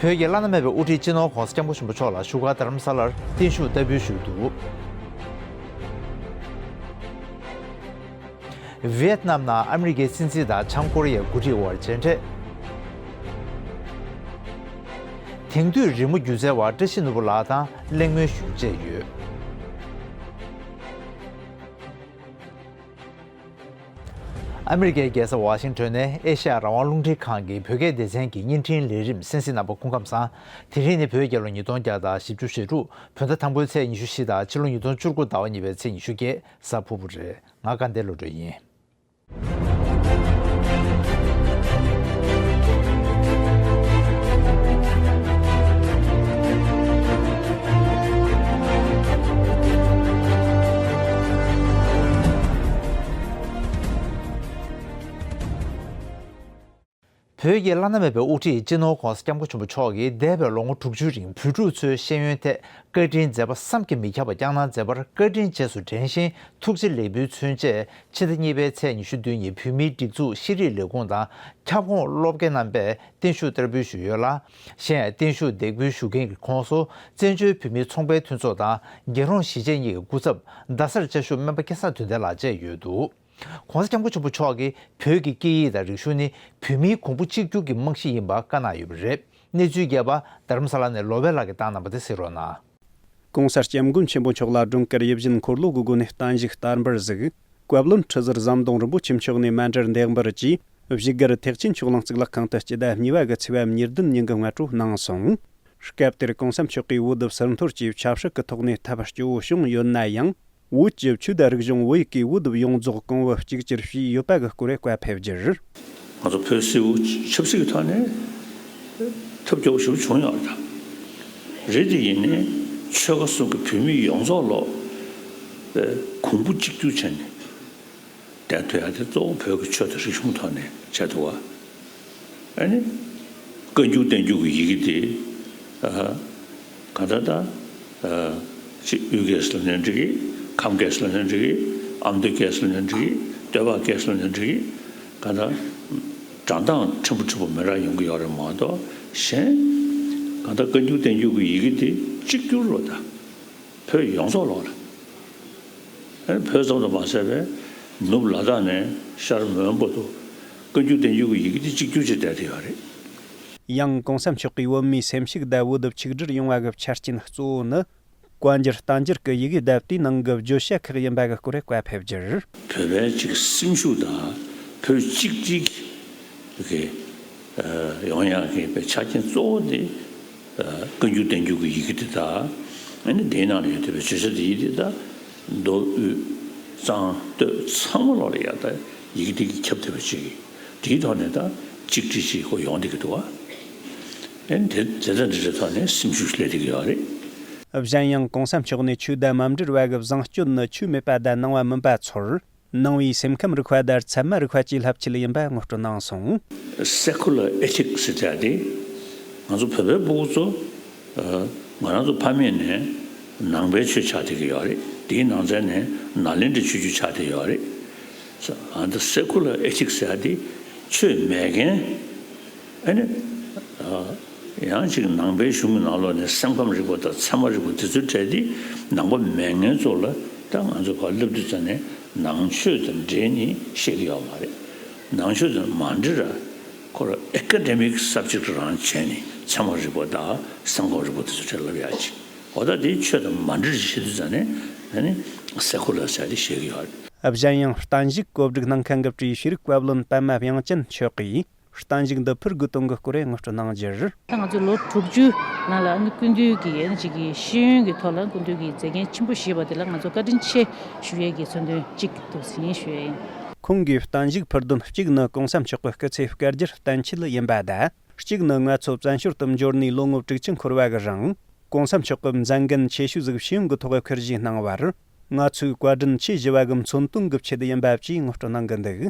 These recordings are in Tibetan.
བོད་ཀྱི་བླ་ན་མེད་པའི་དབུ་ཁྲིད་སྤྱི་ནོར ྋགོང་ས ྋསྐྱབས་མགོན་ཆེན་པོ་མཆོག་ལ་བཞུགས་སྒར་དྷརྨ་ས་ལར་བརྟན་བཞུགས་བསྟར་འབུལ་ཞུས་འདུག ྋབི་ཡེད་ནམ་ནང་ཨ་མི་རི་ཀའི་སྲིད་འཛིན་དང་བྱང་ཀོ་རི་ཡའི་མགོ་ཁྲིད་དབར་མཇལ་འཕྲད། དེང་དུས་རི་མོ་སྒྱུ་རྩལ་བ་བཀྲ་ཤིས་ནོར་བུ་ལགས་དང་གླེང་མོལ་ཞུ་བཅས་ཡོད། ཨ་མི་རི་ཀའི་རྒྱལ་ས་ཝཱ་ཤིང་ཏོན་ནས་ཨེ་ཤ་ཡ་རང་དབང་རླུང་འཕྲིན་ཁང་གི་བོད་སྐད་སྡེ་ཚན་གྱི་བརྙན་འཕྲིན་ལས་རིམ་སན་སི་ནམ་པ་སྐུ་ཁམས་བཟང། དེ་རིང་ནི་བོད་རྒྱལ་ལོ་ཉིས་སྟོང་བརྒྱ་དང་བཞི་བཅུ་ཞེ་དྲུག་བོད་ཟླ་དང་པོའི་ཚེས་ཉི་ཤུ་བཞི་དང་ཕྱི་ལོ་ཉིས་སྟོང་བཅུ་དགུ་ཟླ་བ་གཉིས་པའི་ཚེས་ཉི་ཤུ་བརྒྱད་གཟའ་ཕུར་བུ་རེད་ང་དགའ་ལྡན་བློ་གྲོས་ཡིན། བོད་ཀྱི་བླ་ན་མེད་པའི་དབུ་ཁྲིད་སྤྱི་ནོར ྋགོང་ས ྋསྐྱབས་མགོན་ཆེན་པོ་མཆོག་གིས་འདས་པའི་ལོ་ངོ་དྲུག་ཅུའི་རིང་བོད་ཕྲུག་ཚོའི་ཤེས་ཡོན་ཐད་བཀའ་དྲིན་མཛད་པ་བསམ་གྱིས་མི་ཁྱབ་པ་བསྐྱངས་གནང་མཛད་པར་བཀའ་དྲིན་རྗེས་སུ་དྲན་བཞིན་ཐུགས་རྗེ་ལེགས་འབུལ་མཚོན་ཆེད་ཕྱི་ཟླ་གཉིས་པའི་ཚེས་ཉི་ཤུ་བདུན་ཉིན་བོད་མིའི་སྒྲིག་འཛུགས་ཤེས་རིག་ལས་ཁུངས་དང་ཁྱབ་ཁོངས་སློབ་དགེ་རྣམ་པས་བརྟན་བཞུགས་བསྟར་འབུལ་ཞུས་ཡོད་ལ། གཞན་ཡང་བརྟན་བཞུགས་འདེགས་འབུལ་ཞུ་མཁན་གྱི་ཁོངས་སུ་བཙན་བྱོལ་བོད་མིའི་ཚོང་པའི་མཐུན་ཚོགས་དང་རྒྱལ་རོང་གཞིས་བྱེས་གཉིས་ཀྱི་སྐུ་ཚབ་རྡ་སར་བཅའ་བཞུགས་སྨན་པ་སྐལ་བཟང་དོན་ལྡན་ལགས་བཅས་ཡོད་འདུག ྋགོང་ས ྋསྐྱབས་མགོན་ཆེན་པོ་མཆོག་གིས་བོད་ཀྱི་སྐད་ཡིག་དང་རིག་གཞུང་ནི་བོད་མིའི་གོང་བུ་གཅིག་གྱུར་གྱི་རྨང་གཞི་ཡིན་པ་བཀའ་གནང་ཡོད་པ་རེད་གནས་ཚུལ་རྒྱས་པ་དྷརྨ་ས་ལ་ནས་ལོ་བྷེ་ལགས་ཀྱིས་བཏང་གནང་པ་དེ་གཟིགས་རོགས་གནང། གོང་གསལ་སྐྱབས་མགོན་ཆེན་པོ་མཆོག་ལ་སྒྲུང་དཀར་ཡིད་བཞིན་འཁོར་ལོ་གི་སྒོ་ནས་བརྟན་བཞུགས་བསྟར་འབུལ་གཟིགས། བཀའ་བློན་ཁྲི་ཟུར་ཟམ་གདོང་རིན་པོ་ཆེ་མཆོག་ནས་སྨན་འབྲས་འདེགས་འབུལ་གྱིས་བཞུགས་སྒར་ཐེག་ཆེན་མཆོག་གླིང་གཙུག་ལག་ཁང་དུ་སྤྱི་ཟླ་གཉིས་པ་དགུ་ཚེས་བབ་ཉེར་བདུན་ཉིན་གྱི་ངལ་གྲོ་གནང་སོང། སྐབས་དེར་གོང་ས་མཆོག་གིས་འོས་བསྡུ་ཟུར་འཐོར་གྱི་ཆབ་སྲིད་ཀྱི་ཐོག་ནས་ཐབས་སྐྱོ་བོ་བྱུང་ཡོད་ན་ཡང། བོད་ཀྱི་ཆོས་དད་རིག་གཞུང་བོད་ཀྱི་དབུ་དུབ་ཡོངས་རྫོགས་གོང་བུ་གཅིག་གྱུར་བྱས་ཡོད་པ་གི་སྐོར་བཀའ་ཕེབས་རྒྱུར། ང་ཚོ་བོད་སིལ་བུ་ཆབ་སྲིད་ཀྱི་ཐོག་ནས་ཐབས་སྐྱོ་བོ་ཞིག་བྱུང་ཡོང་བ་དང། རེད་དེ་ཡིན་ནས་ཆོལ་ཁ་གསུམ་གྱི་བོད་མི་ཡོངས་རྫོགས་ལོག་པའི་གོང་བུ་གཅིག་གྱུར་བྱས་ནས་བསྡད་འདུག་ཡ་དེ་གཙོ་བོ་བོད་ཀྱི་ཆོས་དད་རིག་གཞུང་ཐོག་ནས་བྱས་འདུག་བ། ཨ་ནི་བཀའ་འགྱུར་བསྟན་འགྱུར་གྱི་ཡི་གེ་དེ། གང་ལྟར་ད། ཅི་དབུས་སྐད་སུ་ལ་ནོན་འགྲིག། ཁམས་སྐད་སུ་ལ་ནོན་འགྲིག། ཨ་མདོའི་སྐད་སུ་ལ་ནོན་འགྲིག། སྟོད་པ་སྐད་སུ་ལ་ནོན་འགྲིག། གང་ལྟར། དགྲ་མདངས་ཕྲན་བུ་ཕྲན་བུ་མི་རག་ཡོང་གི་ཡོག་རེད་མ་གཏོགས་གཞན། གང་ལྟར་བཀའ་འགྱུར་བསྟན་འགྱུར་གྱི་ཡི་གེ་དེ་གཅིག་གྱུར་རོ་ད། བོད་ཡོངས་རྫོགས་ལོག་ལ། ཨེ་བོད་ཙམ་དུ་མ་ཟད་པའི། ནུབ་ལ་དྭགས་ནས་ཤར་མོན་པོ་དུ། བཀའ་འགྱུར་བསྟན་འགྱུར་གྱི་ཡི་གེ་དེ་གཅིག་གྱུར་བྱེད་བསྡད་དེ་ཡོག་རེད། ཡང་གོང་ས་མཆོག་གིས་བོད་མིའི་སེམས་ཤུགས་ལྡབ་བོ་ལྡིབ་ཆིག་སྒྲིལ་ཡོང་བ་གི་ཆ་རྐྱེན་གཙོ་བོ་ནི། བཀའ་འགྱུར་རྟ་མགྱོགས་ཀྱི་ཡི་གེའི་ལྡབ་ལྟའི་ནང་གི་བརྗོད་བྱ་ཁག་ཡིན་པ་གི་སྐོར་རེ་བཀའ་ཕེབས་རྒྱུར། བོད་པའི་གཅིག་སེམས་ཤུགས་དང་བོད་གཅིག་སྒྲིལ་གྱི་གི་ཡོང་ཡང་གི་པའི་ཆ་རྐྱེན་གཙོ་བོ་དེ། བཀའ་འགྱུར་བསྟན་འགྱུར་གྱི་ཡི་གེ་དེ་དག་ཨེ་ནི་དེའི་ནང་ལ་ཡོད་དེ་བས་བརྗོད་བྱ་དེ་ཡི་དེ་དག་མདོ་དབུས་གཙང་སྟོད་ཚང་མ་ལོག་ལ་ཡལ་ད་ཡི་གེ་དེ་གིས་ཁྱབ་ཐུབ་པ་ཅིག་ཡིན། དེའི་ཐོག་ནས་ད་གཅིག་དྲིས་གཅིག་གོ་ཡོང་བསྡད་ཀྱི་འདུག་བ། ཨེ་དེ་དེ་འདྲ་འདི་འདྲའི་ཐོག་ནས་སེམས་ཤུགས་སླེབས་བསྡད་ཀྱི་ཡོད་རེད། གཞན་ཡང་གང་སེམས་ཕྱོགས་ནས་ཆོས་དད་མ་འབྲེལ་བ་གི་བཟང་སྤྱོད་ནི་ཆོས་མེད་པ་དད་སྣང་བ་མིན་པ་ཚོར་སྣང་བའི་སེམས་ཁམས་རིག་པ་དར་ཚད་མ་རིག་པ་སྐྱེ་ལྷབ་ཆེད་ཡིན་པ་ངོ་སྤྲོད་གནང་སོང། Secular Ethics ཟེར་བྱ་དེ་ང་ཚོ་བོད་པའི་སྤོ་བོ་ཚོ་ང་རང་ཚོ་ཕ་མེས་ནས་ནང་པའི་ཆོས་ཆགས་བསྡད་ཀྱི་ཡོད་རེད་དེའི་ནང་ཚན་ནས་ནཱ་ལེནྡྲའི་ཆོས་བརྒྱུད་ཆགས་བསྡད་ཡོད་རེད། འདི Secular Ethics ཡག་འདི་ཆོས་མེད་མཁན་ཨེ་ནི། ཡང་ཅིག་ནང་པའི་གཞུང་གི་ནང་ལོག་ནས་སེམས་ཁམས་རིག་པ་དང་ཚད་མ་རིག་པ་འདི་ཚོ་བྲལ་ཏེ་ནང་པ་མེད་ངན་ཚོ་ལ་ད་ང་ཚོ་བར་སླེབས་དུས་ཙམ་ནས་ནང་ཆོས་དང་འབྲེལ་ནི་ཤེས་ཀྱི་ཡོད་མ་རེད། ནང་ཆོས་དང་མ་འབྲེལ་ར་ཁོ་ར Academic Subject རང་བྱས་ནས་ཚད་མ་རིག་པ་དང་སེམས་ཁམས་རིག་པ་འདི་ཚོ་བྲལ་ལབ་ཡག་ཅིག། གོ་བརྡ་དེ་ཆོས་དང་མ་འབྲེལ་ཞིག་བྱེད་དུས་ཙམ་ནས་གསལ་ཁོ་ལ་བྱ་སྟེ་བཤད་ཀྱི་ཡོད། གཞན་ཡང་གཏན་གཞིགས་བཀོད་སྒྲིག་གནང་མཁན་གྱི་བཀྲིས་ཤེས་རིག་བཀའ་བློན་པདྨ་དབྱངས་ཅན་མཆོག་གིས་གཏན་གཞིགས་འདི་ཕུར་དགུ་སྟོང་གི་སྐོར་རེ་ངོ་སྤྲོད་གནང་རྒྱུར། ད་ང་ཚོས་ལོ་དྲུག་ཅུའི་ནང་ལ་སྐུ་མདུན་གྱི་ཡན་ཅིག་གི་ཤེས་ཡོན་གྱི་ཐོག་ལ་སྐུ་མདུན་གྱི་མཛད་འགན་ཆེན་པོ་བཞེས་པ་དེ་ལ་ང་ཚོ་བཀའ་དྲིན་ཆེ་ཞུ་ཡས་ཀྱི་མཚོན་དོན་གཅིག་ཏུ་ཟིན་ཞུ་ཡས་ཡིན། ཁོང་གིས་གཏན་གཞིགས་ཕུར་བདུན་གཅིག་ནི་གོང་ས་མཆོག་གི་སྐུ་ཚེ་བསྐལ་བརྒྱར་གཏན་འཁྱིལ་ཡིན་པ་དང་གཅིག་ནི་ང་ཚོ་བཙན་བྱོལ་དུ་འབྱོར་ནས་ལོ་ངོ་དྲུག་ཅུ་འཁོར་བ་གི་རིང ྋགོང་ས་མཆོག་གིས་མཛད་འགན་ཆེ་ཤོས་གཟིགས་ཞིབ་གི་ཐོག་འཁུར་བཞེས་གནང་བར། ང་ཚོའི་བཀའ་དྲིན་ཆེས་བཞི་བ་གི་མཚོན་དོན་གྱི་ཆེད་ཡིན་པ་བཅས་ངོ་སྤྲོད་གནང་གི་འདུག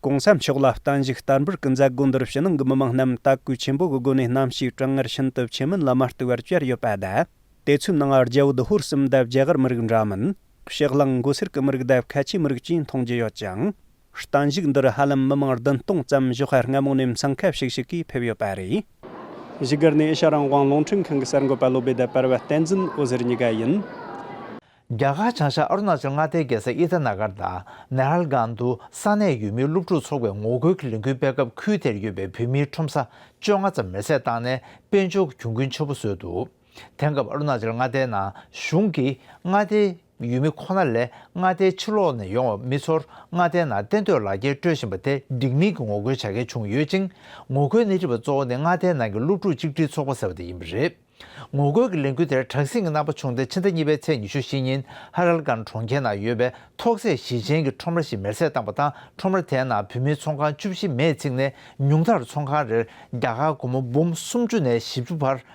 ྋགོང་ས་མཆོག་ལ་བསྟན་བཞུགས་བསྟར་འབུལ་གྱི་མཛད་སྒོ་འདིར་ཕྱི་ནང་གི་མི་མང་རྣམས་དད་གུས་ཆེན་པོ་གི་སྒོ་ནས་གནམ་གཤིས་གྲང་ངར་ཤིན་ཏུ་ཆེ་མིན་ལ་མ་ལྟོས་པར་བཅར་ཡོད་པ་དང། དེ་ཚོའི་ནང་རྒྱལ་བུ་དུ་ཧོར་སིམ་འདབས་རྒྱ་གར་མི་རིགས་འདྲ་མིན། ཕྱི་གླིང་མགོ་སེར་གྱི་མི་རིགས་འདབས་ཁ་ཆེའི་མི་རིགས་བཅས་མཐོང་རྒྱུ་ཡོད་ཅིང། གཏན་འཇུག་འདིར་ཧ་ལམ་མི་མང་བདུན་སྟོང་ཙམ་བཞུགས་སྒར་སྔ་མོ་ནས་མཚང་ཁ་ཤིག་ཤིག་གིས་ཕེབས་ཡོད་པ་རེད། བཞུགས་སྒར་ནི་ཨེ་ཤ་རང་དབང་རླུང་འཕྲིན་ཁང་གི་གསར་འགོད་པ་བློ་འབེད་ལྟར་སྤར་བ་བསྟན་འཛིན་འོད་ཟེར་གཉིས་ཀ་ཡིན། རྒྱ་གར་བྱང་ཤར་ཨ་རུ་ན་ཅལ་མངའ་སྡེའི་རྒྱལ་ས་ཨི་ཏཱ་ན་གྷར་དང་ནེ་ཧར་སྒང་དུ་ས་གནས་ཡུལ་མིའི་སློབ་ཕྲུག་ཚོགས་པའི་ངོ་རྒོལ་གྱི་ལས་འགུལ་སྤེལ་སྐབས་ཁུལ་དེར་ཡོད་པའི་བོད་མིའི་ཁྲོམ་ས་བཅོ་ལྔ་ཙམ་མེར་བསྲེགས་བཏང་ནས་དཔལ་འབྱོར་གྱི་གྱོང་གུན་ཆེན་པོ་བཟོས་འདུག། དེང་སྐབས་ཨ་རུ་ནཱ་ཅལ་མངའ་སྡེའི་ནང་གཞུང་གིས་མངའ་སྡེའི་ཡུལ་མི་ཁོ་ན་ལས་མངའ་སྡེའི་ཕྱི་ལོགས་ནས་ཡོང་བ་མི་ཚོར་མངའ་སྡེའི་ནང་གཏན་སྡོད་ལག་འཁྱེར་སྤྲོད་བཞིན་པ་དེ་འགྲིག་མིན་གྱི་ངོ་རྒོལ་བྱ་མཁན་བྱུང་ཡོད་ཅིང་ངོ་རྒོལ་སྣེ་ཁྲིད་པ་གཙོ་བོ་ནི་མངའ་སྡེའི་ནང་གི་སློབ་ཕྲུག་གཅིག་སྒྲིལ་ཚོགས་པ་ཟེར་བ་དེ་ཡིན་པ་རེད། ངོ་རྒོལ་གྱི་ལས་འགུལ་དེར་གྲངས་བསྲིང་གི་རྣམ་པ་བྱུང་སྟེ་ཕྱི་ཟླ་གཉིས་པའི་ཚེས་ཉི་ཤུ་བཞི་ཉིན་ཧ་རལ་གཱན་གྲོང་ཁྱེར་ནང་ཡོད་པའི་ཐོག་ཚད་གཞི་ཅན་གྱི་ཁྲོམ་ར་ཞིག་མེར་སྲེག་བཏང་པ་དང་ཁྲོམ་ར་དེའི་ནང་བུད་མེད་ཚོང་ཁང་བཅུ་བཞི་མེས་འཚིག་ནས་ཉུང་མཐར་ཚོང་ཁང་རེར་རྒྱ་གར་སྒོར་མོ་འབུམ་སུམ་ཅུ་ནས་བཞི་བཅུ་བར་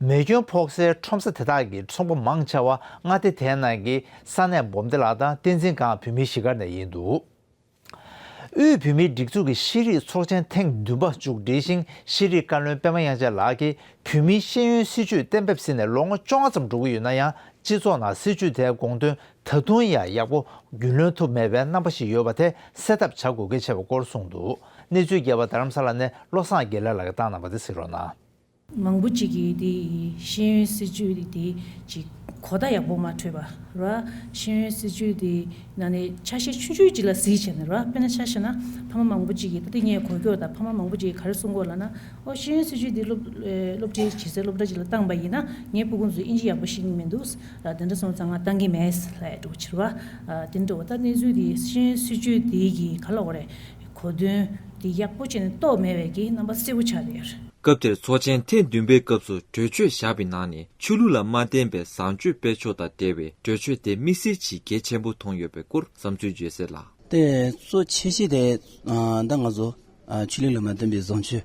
མེ་སྐྱོན་ཕོག་སའི་ཁྲོམ་ས་དེ་དག་གི་ཚོང་པ་མང་ཆེ་བ་མངའ་སྡེ་དེའི་ནང་གི་ས་གནས་སྦོམ་སྡེ་ལག་དང་བསྟན་འཛིན་སྒང་བོད་མིའི་གཞིས་སྒར་ནས་ཡིན་འདུག་དབུས་བོད་མིའི་སྒྲིག་འཛུགས་ཀྱི་ཤེས་རིག་ཚོགས་ཆེན་ཐེངས་བདུན་པ་མཇུག་སྒྲིལ་ཞིང་ཤེས་རིག་བཀའ་བློན་པད་མ་དབྱངས་ཅན་ལགས་ཀྱིས་བོད་མིའི་ཤེས་ཡོན་སྲིད་བྱུས་གཏན་འབེབས་ཟིན་ནས་ལོ་ངོ་བཅོ་ལྔ་ཙམ་འགྲོ་གི་ཡོད་ན་ཡང་སྤྱི་ཚོགས་ནང་སྲིད་བྱུས་དེའི་དགོངས་དོན་ད་དུང་ཡང་ཡག་པོ་རྒྱུན་ལོན་ཐུབ་མེད་པའི་རྣམ་པ་ཞིག་ཡོད་པ་དེ་སེལ་ཐབས་བྱ་དགོས་གལ་ཆེ་བ་སྐོར་གསུངས་འདུག་གནས་ཚུལ་རྒྱས་པ་རྡ་རམ་ས་ལ་ནས་བློ་བཟང་དགེ་ལེགས་ལགས་ཀྱིས་བཏང་གནང་བ་དེ་གཟིགས་རོགས་གནང། མང་པོ་ཅིག་གིས་དེ་ཡི་ཤེས་ཡོན་སྲིད་བྱུས་དེ་ཀྱི་གོ་བརྡ་ཡག་པོ་མ་འཕྲོད་པ། ར། ཤེས་ཡོན་སྲིད་བྱུས་དེ་ནང་ནས་ཆ་ཤས་ཆུང་ཆུང་ཅིག་ལ་གཟིགས་བྱས་ན་ར་དཔེར་ན་ཆ་ཤས་ན་ཕ་མ་མང་པོ་ཅིག་གིས་ད་ལྟ་ངས་གོ་ཁྱོ་དང་ཕ་མ་མང་པོ་ཅིག་གིས་ག་རེ་གསུང་གོ་ལ་ན། ཨོ་ཤེས་ཡོན་སྲིད་བྱུས་དེ་སློབ་ཁྲིད་བྱེད་སའི་སློབ་གྲྭ་ཅིག་ལ་བཏང་པ་ཡིན་ན་ངའི་སྤུ་གུང་ཚོས་དབྱིན་ཇི་ཡག་པོ་ཤེས་ཀྱིན་མི་འདུག་ར་དེ་འདྲ་སོང་ཙང་ང་བཏང་གིན་མེད་རེད་འགྲོ་བ་ཕྱིར་བ། དེ་འདྲ་བ་ད་གནས་ཚུལ་དེ་ཤེས་ཡོན་སྲིད་བྱུས་དེ་ཀྱིས་ག་ལ་འོ་རེད། གོ་དོན། འདི་ཡག་པོ་བྱས་ནས་རྟོག་མེད་བས་ཀྱི་རྣམ་པ་གསལ་བོ་ཆགས་ཟེར། སྐབས་དེར་ཚོགས་ཆེན་ཐེངས་བདུན་པའི་སྐབས་སུ་གྲོས་ཆོད་ཞགས་པའི་ནང་ནས་ཆོས་ལུགས་ལ་མ་བརྟེན་པའི་བཟང་སྤྱོད་སྤེལ་ཕྱོགས་དང་འབྲེལ་བའི་གྲོས་ཆོད་དེ་དམིགས་བསལ་གྱིས་གལ་ཆེན་པོ་མཐོང་ཡོད་པའི་སྐོར་བསམ་ཚུལ་བརྗོད་གསལ་ལ། དེ་གཙོ་ཆེ་ཤོས་དེ་ད་ང་ཚོ་ཆོས་ལུགས་ལ་མ་བརྟེན་པའི་བཟང་སྤྱོད་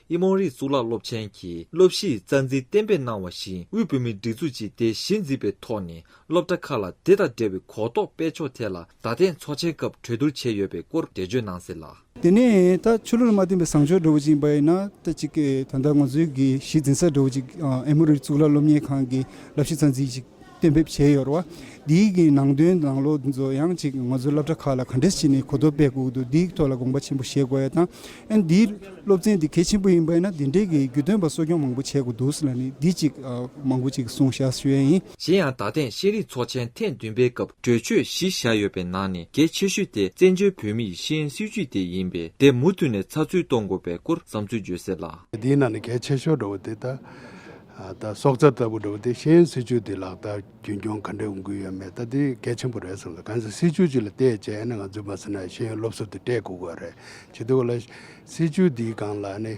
དབྱི་མོང་རིགས་གཙུག་ལག་སློབ་ཆེན་གྱི་སློབ་གཞིའི་རྩ་འཛིན་གཏན་འབེབས་གནང་བ་བཞིན་དབུས་བོད་མིའི་སྒྲིག་འཛུགས་ཀྱིས་དེ་གཞི་འཛིན་པའི་ཐོག་ནས་སློབ་གྲྭ་ཁག་ལ་དེ་དང་འབྲེལ་བའི་གོ་རྟོགས་སྤེལ་ཕྱོགས་ཐད་ལ་ད་ཐེངས་ཚོགས་ཆེན་སྐབས་གྲོས་བསྡུར་བྱས་ཡོད་པའི་སྐོར་འགྲེལ་བརྗོད་གནང་ཟིན་ལ། དེ་ནས་ད་ཆོས་ལུགས་ལ་མ་བརྟེན་པའི་བཟང་སྤྱོད་འགྲོ་བ་ཅིག་ཡིན་པ་ཡིན་ན་ད་ཅིག་གིས་ད་ལྟ་ང་ཚོའི་གཞི་འཛིན་སར་འགྲོ་བ་ཅིག་དབྱི་མོང་རིགས་གཙུག་ལག་སློབ་གཉེར་ཁང་གི་བསླབ་གཞི་རྩ་འཛིན་ཅིག་གཏན་འབེབས་བྱས་ཡོད། འདིའི་གིས་ནང་དོན་དང་ལོ་ཚོད་ཡང་གཅིག་ང་ཚོའི་སློབ་གྲྭ་ཁག་ལ་ག་འདྲས་བྱས་ནས་གོ་ཐོབ་སྤེལ་དགོས་འདུག་འདིའི་ཐོག་ལ་དགོངས་པ་ཆེན་པོ་བཞེས་དགོས་ཡ་དང། ཨན་འདིའི་སློབ་ཚན་འདི་གལ་ཆེན་པོ་ཡིན་པ་ཡིན་ན་འདི་འདྲའི་གིས་རྒྱུས་སྟོན་པ་གསོ་སྐྱོང་མང་པོ་བྱས་དགོས་འདུག་ཟེར་ན་ནི་འདི་གཅིག་མང་པོ་གཅིག་གསུང་བཤད་ཞུ་ཡས་ཡིན། གཞན་ཡང་ད་ཐེངས་ཤེས་རིག་ཚོགས་ཆེན་ཐེངས་བདུན་པའི་སྐབས་གྲོས་ཆོད་བཞི་བཞག་ཡོད་པའི་ནང་ནས་གལ་ཆེ་ཤོས་དེ་བཙན་བྱོལ་བོད་མི་ཡི་ཤེས་ཡོན་སྲིད་བྱུས་དེ་ཡིན་པས་དེ་མུ་མཐུད་ནས་ཚགས་ཚུད་གཏོང་དགོས་པའི་སྐོར་བསམ་ཚུལ་བརྗོད་གསལ་ལ། འདིའི་ནང་ནས་གལ་ཆེ་ཤོས་འགྲོ་བ་དེ་ལྟ། ད་སྲོག་རྩ་ལྟ་བུ་འགྲོ་བ་དེ་གཞན་སྲིད་ཇུས་འདི་ལག་བསྟར་རྒྱུན་སྐྱོང་ག་འདྲ་ཡོང་གི་ཡོད་མེད་ད་དེ་གལ་ཆེན་པོ་རེད་བསམ་སོང་གང་ཟག་སྲིད་ཇུས་ཅིག་ལ་བལྟས་རྗེས་ཨེ་ན་ང་ཚོས་མ་ཟེར་ན་ཤེས་ཡོན་སློབ་གསོ་དེ་སྤྲད་དགོས་གི་རེད་ཇི་ལྟ་བུ་ལ། སྲིད་ཇུས་འདིའི་སྒང་ལ་ནི་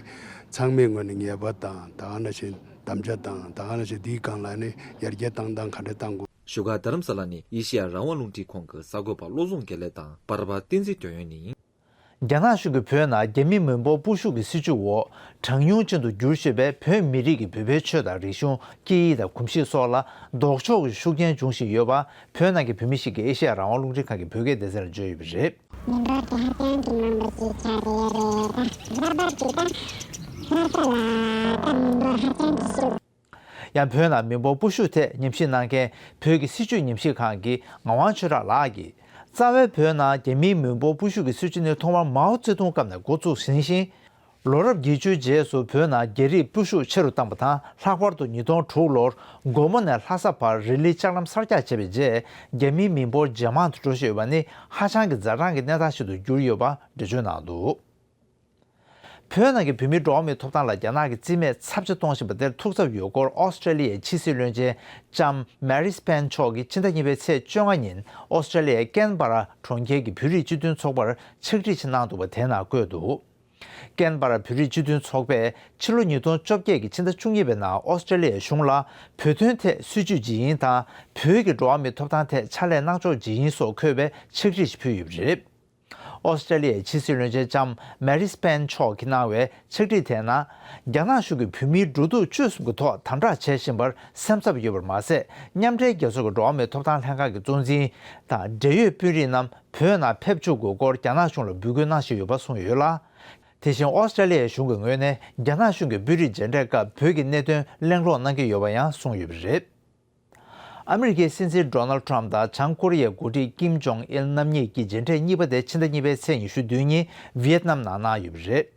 ཚང་མས་ངོས་ནས་ངེས་པ་དང་ད་གང་ན་བཞིན་དམ་བཅའ་དང་ད་གང་ན་བཞིན་འདིའི་སྒང་ལ་ནི་ཡར་རྒྱས་བཏང་སྟངས་ག་འདྲ་བཏང་དགོས། བཞུགས་སྒར་རྡ་རམ་ས་ལ་ནས་ཨེ་ཤེ་ཡ་རང་དབང་རླུང་འཕྲིན་ཁང་གི་གསར་འགོད་པ་བློ་བཟང་དགེ་ལེགས་དང་འབར་བ་བསྟན་འཛིན་དོན་ཡོད་ནི། རྒྱ་ནག་གཞུང་གིས་བོད་ནང་རྒྱ་མི་མི་འབོར་སྤོ་ཤུགས་ཀྱི་སྲིད་བྱུས་འོག་གྲངས་ཉུང་ཅན་དུ་འགྱུར་ཤེས་པའི་བོད་མི་རིགས་ཀྱི་བོད་པའི་ཆོས་དང་རིག་གཞུང་སྐད་ཡིག་དང་གོམས་གཤིས་སོགས་ལ་ལྡོག་ཕྱོགས་ཀྱི་ཤུགས་རྐྱེན་འབྱུང་བཞིན་ཡོད་པ་བོད་ནང་གི་བོད་མི་ཞིག་གིས་ཨེ་ཤེ་ཡ་རང་དབང་རླུང་འཕྲིན་ཁང་གི་བོད་སྐད་སྡེ་ཚན་ལ་བརྗོད་ཡོད་པ་རེད། མི་འབོར་དེ་ཧ་ཅང་གི་མང་པོ་ཞིག་ཆགས་ཀྱི་ཡོད་པས་ད་ལྟ་བར་དུ་ད་ལྟ་ལ་ད་མི་འབོར་ཧ་ཅང་གི་ཤུགས། ཡང་བོད་ནང་མི་འབོར་སྤོ་བཤུག་ཐད་ཉམས་ཞིབ་གནང་མཁན་བོད་ཀྱི་སྲིད་བྱུས་ཉམས་ཞིབ་ཁང་གི་ངག་དབང་ཆོས་གྲགས་ལགས་ཀྱིས། རྩ་བའི་བོད་ནང་རྒྱ་མིའི་མི་འབོར་སྤོ་བཤུག་གི་སྲིད་བྱུས་ནི་ཐོག་མར་མའོ་ཙེ་ཏུང་སྐབས་ནས་འགོ་བཙུགས་ཟིན་ཞིང། ལོ་རབས་བརྒྱད་ཅུའི་རྗེས་སུ་བོད་ནང་རྒྱ་རིགས་སྤོ་བཤུག་ཆེ་རུ་བཏང་པ་དང་ལྷག་པར་དུ་ཉིས་སྟོང་དྲུག་ལོར་དགོང་མོ་ནས་ལྷ་ས་བར་རི་ལི་ལྕགས་ལམ་གསར་རྒྱག་བྱས་པའི་རྗེས་རྒྱ་མིའི་མི་འབོར་ཇེ་མང་དུ་འགྲོ་བཞིན་ཡོད་པ་ནི་ཧ་ཅང་གི་འཛའ་དྲང་གི་གནས་སྟངས་ཤིག་ཏུ་གྱུར་ཡོད་པ་འགྲེལ་བརྗོད་གནང་འདུག། བོད་ནང་གི་བོད་མིའི་འགྲོ་བ་མིའི་ཐོབ་ཐང་ལ་རྒྱ་ནག་གིས་རྩིས་མེད་ཚབས་ཆེ་གཏོང་བཞིན་པ་དེར་ཐུགས་འཚབ་ཡོད་སྐོར་ཨོ་སི་ཀྲེ་ལི་ཡའི་ཕྱི་སྲིད་བློན་ཆེན་ལྕམ Marise Payne མཆོག་གིས་ཕྱི་ཟླ་གཉིས་པའི་ཚེས་བཅོ་ལྔ་ཉིན་ཨོ་སི་ཀྲེ་ལི་ཡའི་ཀན་པ་ར་གྲོང་ཁྱེར་གྱི་བོད་རིགས་སྤྱི་མཐུན་ཚོགས་པར་ཕྱག་བྲིས་ཆེ་གནང་འདུག་པ་དེ་ན་བཀོད་འདུག་ཀན་པ་ར་བོད་རིགས་སྤྱི་མཐུན་ཚོགས་པས་ཕྱི་ལོ་ཉིས་སྟོང་བཅོ་བརྒྱད་ཀྱི་ཕྱི་ཟླ་བཅུ་གཉིས་པའི་ནང་ཨོ་སི་ཀྲེ་ལི་ཡའི་གཞུང་ལ་བོད་དོན་ཐད་སྲིད་བྱུས་ཇི་ཡིན་དང་བོད་ཀྱི་འགྲོ་བ་མིའི་ཐོབ་ཐང་ཐད་ཕྱག་ལས་གནང་ཕྱོགས་ཇི་ཡིན་སོགས་འཁོད་པའི་ཕྱག་བྲིས་ཤིག་ཕུལ་ཡོད་པ་རེད། ཨོ་སི་ཀྲ་ལི་ཡའི་ཕྱི་སྲིད་བློན་ཆེན་ལྕམ་མེ་རིས་པེན་མཆོག་གིས་གནང་བའི་ཕྱག་བྲིས་དེ་ན། རྒྱ་ནག་གཞུང་གིས་བོད་མིའི་འགྲོ་འདུག་སྤྱོད་གསུམ་གྱི་ཐོག་དམ་དྲག་བྱེད་བཞིན་པར་སེམས་འཚབ་ཡོད་པར་མ་ཟད་མཉམ་འབྲེལ་རྒྱལ་ཚོགས་ཀྱི་འགྲོ་བ་མིའི་ཐོབ་ཐང་ལྷན་ཁང་གི་གཙོ་འཛིན་དང་འབྲེལ་ཡོད་དཔོན་རིགས་རྣམས་བོད་ནང་ཕེབས་འཇུག་དགོས་སྐོར་རྒྱ་ནག་གཞུང་ལ་འབོད་སྐུལ་གནང་བཞིན་ཡོད་པ་གསུངས་ཡོད་ལ། དེ་བཞིན་ཨོ་སི་ཀྲ་ལི་ཡའི་གཞུང་གི་ངོས་ནས་རྒྱ་ནག་གཞུང་གིས་དཔོན་རིགས་མཇལ་འཕྲད་སྐབས་བོད་ཀྱི་གནད་དོན་གླེང་སློང་གནང་གི་ཡོད་པ་ཡང་གསུངས་ཡོད་པ་རེད། ཨ་མི་རི་ཀའི་སྲིད་འཛིན Donald Trump དང་བྱང་ཀོ་རི་ཡའི་འགོ་ཁྲིད Kim Jong Il རྣམ་གཉིས་ཀྱི་མཇལ་འཕྲད་གཉིས་པ་དེ་ཕྱི་ཟླ་གཉིས་པའི་ཚེས་ཉི་ཤུ་དོན་གཉིས Viet Nam ནང་གནང་ཡོད་པ་རེད།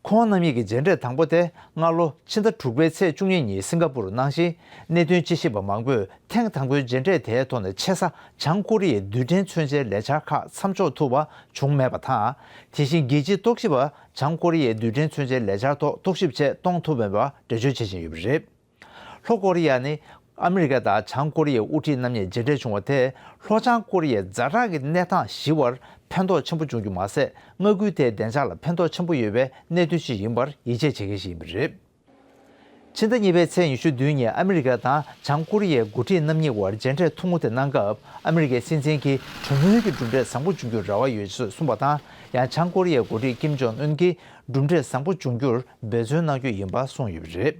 ཁོང་རྣམ་གཉིས་ཀྱི་མཇལ་འཕྲད་དང་པོ་དེ་སྔ་ལོ་ཕྱི་ཟླ་དྲུག་པའི་ཚེས་བཅུ་གཉིས་ཉིན Singapore རུ་གནང་ཞིང་གནད་དོན་དཔྱད་ཞིབ་པ་མང་པོས་ཐེངས་དང་པོའི་མཇལ་འཕྲད་དེའི་ཐོག་ནས་ཆེ་ས་བྱང་ཀོ་རི་ཡའི་རྡུལ་ཕྲན་མཚོན་ཆའི་ལས་འཆར་ཁག་མཚམས་འཇོག་ཐུབ་པ་བྱུང་མེད་པ་དང་དེ་བཞིན་རྒྱལ་སྤྱིའི་རྟོག་ཞིབ་པ་བྱང་ཀོ་རི་ཡའི་རྡུལ་ཕྲན་མཚོན་ཆའི་ལས་འཆར་ཐོག་རྟོག་ཞིབ་ཆེད་གཏོང་ཐུབ་མེད་པ་འགྲེལ་བརྗོད་བྱེད་བཞིན་ཡོད་པ་རེད། ལྷོ་ཀོ་རི་ཡ་ནི་ཨ་མི་རི་ཀ་དང་བྱང་ཀོ་རི་ཡའི་དབུ་ཁྲིད་རྣམ་གཉིས་མཇལ་འཕྲད་བྱུང་བ་དེས་ལྷོ་བྱང་ཀོ་རི་ཡའི་རྫ་བྲག་གི་གནས་སྟངས་ཞི་བར་ཕན་ཐོགས་ཆེན་པོ་འབྱུང་རྒྱུ་མ་ཟད་མངའ་ཁུལ་དེའི་བདེ་འཇགས་ལ་ཕན་ཐོགས་ཆེན་པོ་ཡོད་པའི་གནད་དོན་ཞིག་ཡིན་པར་ཡིད་ཆེས་བྱེད་མཁན་ཞིག་ཡིན་པ་རེད། ཕྱི་ཟླ་གཉིས་པའི་ཚེས་ཉི་ཤུ་བདུན་ཉིན་ཨ་མི་རི་ཀ་དང་བྱང་ཀོ་རི་ཡའི་མགོ་ཁྲིད་རྣམ་གཉིས་དབར་མཇལ་འཕྲད་ཐུང་ངུ་དེ་གནང་སྐབས་ཨ་མི་རི་ཀའི་སྲིད་འཛིན་གྱིས་གྲོས་མོལ་གྱི་གྲུབ་འབྲས་བཟང་པོ་འབྱུང་རྒྱུར་རེ་བ་ཡོད་ཅེས་གསུངས་པ་དང་ཡང་བྱང་ཀོ་རི་ཡའི་མགོ་ཁྲིད་ཀིམ་ཇོན་ཨུན་གྱིས་གྲུབ་འབྲས་བཟང་པོ་འབྱུང་རྒྱུར་འབད་བརྩོན་གནང་རྒྱུ་ཡིན་པ་གསུངས་ཡོད་པ་རེད།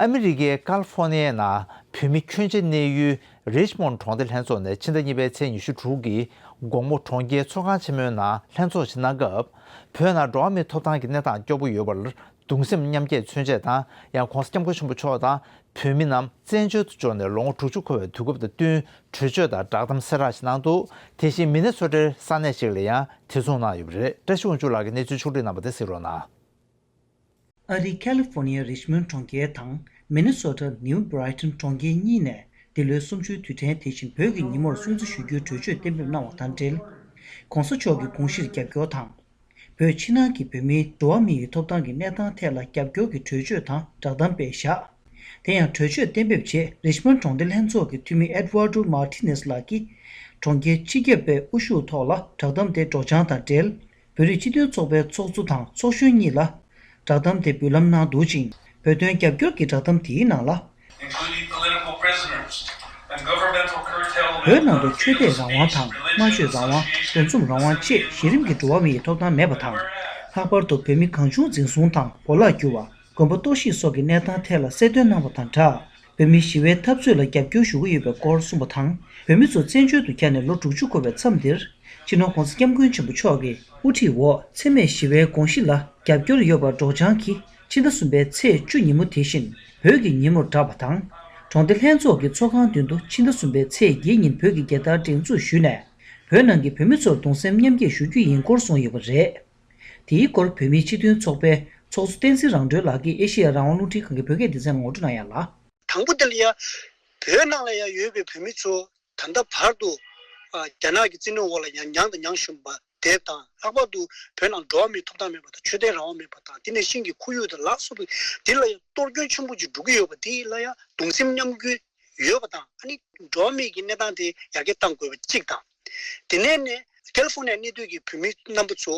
ཨ་མི་རི་ཀའི་ཀལ་ཧྥོ་ནི་ཡའི་ནང་བོད་མི་ཁྱོན་ཆེ་གནས་ཡུལ་རེཇ་མོན་གྲོང་སྡེ་ལྷན་ཚོགས་ནས་ཕྱི་ཟླ་གཉིས་པའི་ཚེས་ཉི་ཤུ་དྲུག་གི་དགོང་མོ་གྲོང་ཁྱེར་ཚོགས་ཁང་ཆེན་མོའི་ནང་ལྷན་ཚོགས་ཆེ་གནང་སྐབས་བོད་ནང་འགྲོ་བ་མིའི་ཐོབ་ཐང་གི་གནས་སྟངས་སྐྱོ་པོ་ཡོད་པར་གདུང་སེམས་མཉམ་སྐྱེད་མཚོན་ཆེད་དང་ཡང ྋགོང་ས ྋསྐྱབས་མགོན་ཆེན་པོ་མཆོག་དང་བོད་མི་རྣམས་བཙན་བྱོལ་དུ་འབྱོར་ནས་ལོ་ངོ་དྲུག་ཅུ་འཁོར་བའི་དུས་སྐབས་དང་བསྟུན་གྲོས་ཆོད་དང་བསྒྲགས་གཏམ་སེ་རག་ཞིག་གནང་འདུག་དེ་བཞིན་མི་སྣ་ཚོ་གྲེར་ས་གནས་ཤིག་ལ་ཡང་དེ་མཚུངས་གནང་ཡོད་པ་རེད་བཀྲ་ཤིས་དབང་ཕྱུག་ལགས་ཀྱིས་གནས་ཚུལ་ཕྱོགས་བསྒྲིགས་གནང་པ་དེ་གཟིགས་རོགས་གནང། ཨ་རིའི་ཁ་ལི་ཧྥོ་ནི་ཡ་རིཤ་མོན་གྲོང་ཁྱེར་དང་མེ་ནི་སོ་ཏཱ་ནིའུ་བྷ་རི་ཐོན་གྲོང་ཁྱེར་གཉིས་ནས་འདི་ལོའི་གསུམ་བཅུའི་དུས་དྲན་དེ་བཞིན་བོད་ཀྱི་ཉིན་མོར་སྲུང་བརྩི་ཞུ་རྒྱུའི་གྲོས་ཆོད་གཏན་འབེབས་གནང་བ་དང་འབྲེལ། ྋགོང་ས་མཆོག་གི་དགོངས་གཞིར་རྒྱབ་སྐྱོར་དང། བོད་ཕྱི་ནང་གི་བོད་མིའི་འགྲོ་བ་མི་ཡི་ཐོབ་ཐང་གི་གནས་སྟངས་ཐད་ལ་རྒྱབ་སྐྱོར་གྱི་གྲོས་ཆོད་དང་སྦྲགས་གཏམ་དཔེ་བཞག། དེ་ཡང་གྲོས་ཆོད་གཏན་འབེབས་རྗེས་རིཤ་མོན་གྲོང་སྡེ་ལྷན་ཚོགས་ཀྱི་འཐུས་མི Eduardo Martinez ལགས་ཀྱིས། གྲོང་ཁྱེར་སྤྱི་ཁྱབ་པའི་དབུ་བཞུགས་ཐོག་ལ་བསྒྲགས་གཏམ་དེ་སྒྲོག་སྦྱང་དང་འབྲེལ་བོད་རིགས་སྤྱི་མཐུན་ཚོགས་པའི་ཚོགས་གཙོ་དང་ཚོགས་གཞོན་གཉིས་ལ། བསྒྲགས་གཏམ་དེ་འབུལ་ལམ་ནང་འདུག་ཅིང་བོད་དོན་རྒྱབ་སྐྱོར་གྱི་བསྒྲགས་གཏམ་དེའི་ནང་ལ། བོད་ནང་དུ་ཆོས་དད་རང་དབང་དང་སྨྲ་བརྗོད་རང་དབང་འདུ་འཛོམས་རང་དབང་བཅས་གཞི་རིམ་གྱི་འགྲོ་བ་མིའི་ཐོབ་ཐང་མེད་པ་དང། ལྷག་པར་དུ་བོད་མི་གང་བྱུང་འཛིན་བཟུང་དང་གོ་ལག་བསྒྱུར་བ། དགོན་པ་གཏོར་བཤིག་སོགས་ཀྱི་གནས་སྟངས་ཐད་ལ་གསལ་སྟོན་གནང་བ་དང་སྦྲགས། བོད་མིའི་ཞི་བའི་འཐབ་རྩོད་ལ་རྒྱབ་སྐྱོར་ཞུ་གི་ཡོད་པའི་སྐོར་གསུངས་པ་དང་བོད་མི་ཚོ་བཙན་བྱོལ་དུ་གྱར་ནས་ལོ་དྲུག་ཅུ་འཁོར་བའི་མཚམས་འདིར། སྤྱི་ནོར ྋགོང་ས ྋསྐྱབས་མགོན་ཆེན་པོ་མཆོག་གི་དབུ་ཁྲིད་འོག་འཚེ་མེད་ཞི་བའི་དགོངས་གཞི་ལ་རྒྱབ་སྐྱོར་ཡོད་པར་སྒྲོག་སྦྱང་གིས་ཕྱི་ཟླ་གསུམ་པའི་ཚེས་བཅུ་ཉིན་མོ་དེ་བཞིན་བོད་ཀྱི་ཉིན་མོར་བསྒྲགས་པ་དང། གྲོང་སྡེ་ལྷན་ཚོགས་ཀྱི་ཚོགས་ཁང་མདུན་དུ་ཕྱི་ཟླ་གསུམ་པའི་ཚེས་བརྒྱད་ཉིན་བོད་ཀྱི་རྒྱལ་དར་བསྒྲེངས་འཛུགས་ཞུས་ནས་བོད་ནང་གི་བོད་མི་ཚོར་གདུང་སེམས་མཉམ་སྐྱེད་ཞུ་རྒྱུ་ཡིན་སྐོར་གསུངས་ཡོད་པ་རེད། དེའི་སྐོར་བོད་མིའི་སྤྱི་མཐུན་ཚོགས་པའི་ཚོགས་གཙོ་བསྟན་འཛིན་རང་གྲོལ་ལགས་ཀྱིས་ཨེ་ཤེ་ཡ་རང་དབང་རླུང་འཕྲིན་ཁང་གི་བོད་སྐད་སྡེ་ཚན་ངོ་སྤྲོད་གནང་ཡ་ལ། དང་པོ་དེ་ལ་ཡང། བོད་ནང་ལ་ཡང་ཡོད་པའི་བོད་མི་ཚོ་ད་ལྟ་བར་དུ། རྒྱ་ནག་གི་བཙན་གནོན་འོག་ལ་ཡང་མྱངས་དང་མྱངས་བཞིན་པ་དེ་དང་ལྷག་པར་དུ་བོད་ནང་འགྲོ་བ་མིའི་ཐོབ་ཐང་མེད་པ་དང་ཆོས་དད་རང་དབང་མེད་པ་དང་དེ་ནས་ཤིང་གི་ཁོར་ཡུག་དང་ལག་སོགས་ཀྱི་དེ་ལ་ཡང་གཏོར་སྐྱོན་ཆེན་པོ་ཅིག་འགྲོ་གི་ཡོད་པ་དེ་ལ་ཡང་གདུང་སེམས་མཉམ་སྐྱོད་ཡོད་པ་དང་ཨ་ནི། འགྲོ་བ་མིའི་གི་གནས་སྟངས་དེ་ཡར་རྒྱས་གཏང་དགོས་པ་གཅིག་དང། དེ་ནས་ནི་ཀལ་ཧྥོ་ནེ་གནས་སྡོད་ཀྱི་བོད་མི་རྣམ་པ་ཚོ་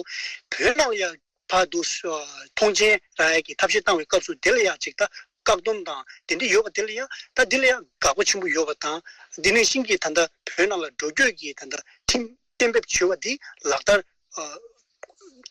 བོད་ནང་ལ་ཡང་བར་དུ་ཐོངས་མཆན་ར་ཡལ་གྱི་ཐབས་ཤེས་བཏང་བའི་སྐབས་སུ་དེ་ལ་ཡང་ཅིག་ཐ་བཀག་སྡོམ་དང་དེ་འདྲ་ཡོད་པ་དེ་ལ་ཡང་ད་འདི་ལ་ཡང་དགག་པ་ཆེན་པོ་ཡོད་པ་དང་འདི་ནས་ཤིང་གིས་ད་ལྟ་བོད་ནང་ལ་འགྲོ་སྐྱོད་ཀྱི་ད་ལྟ་ཁྲིམས་གཏན་འབེབས་བྱོས་བ་འདི་ལག་བསྟར།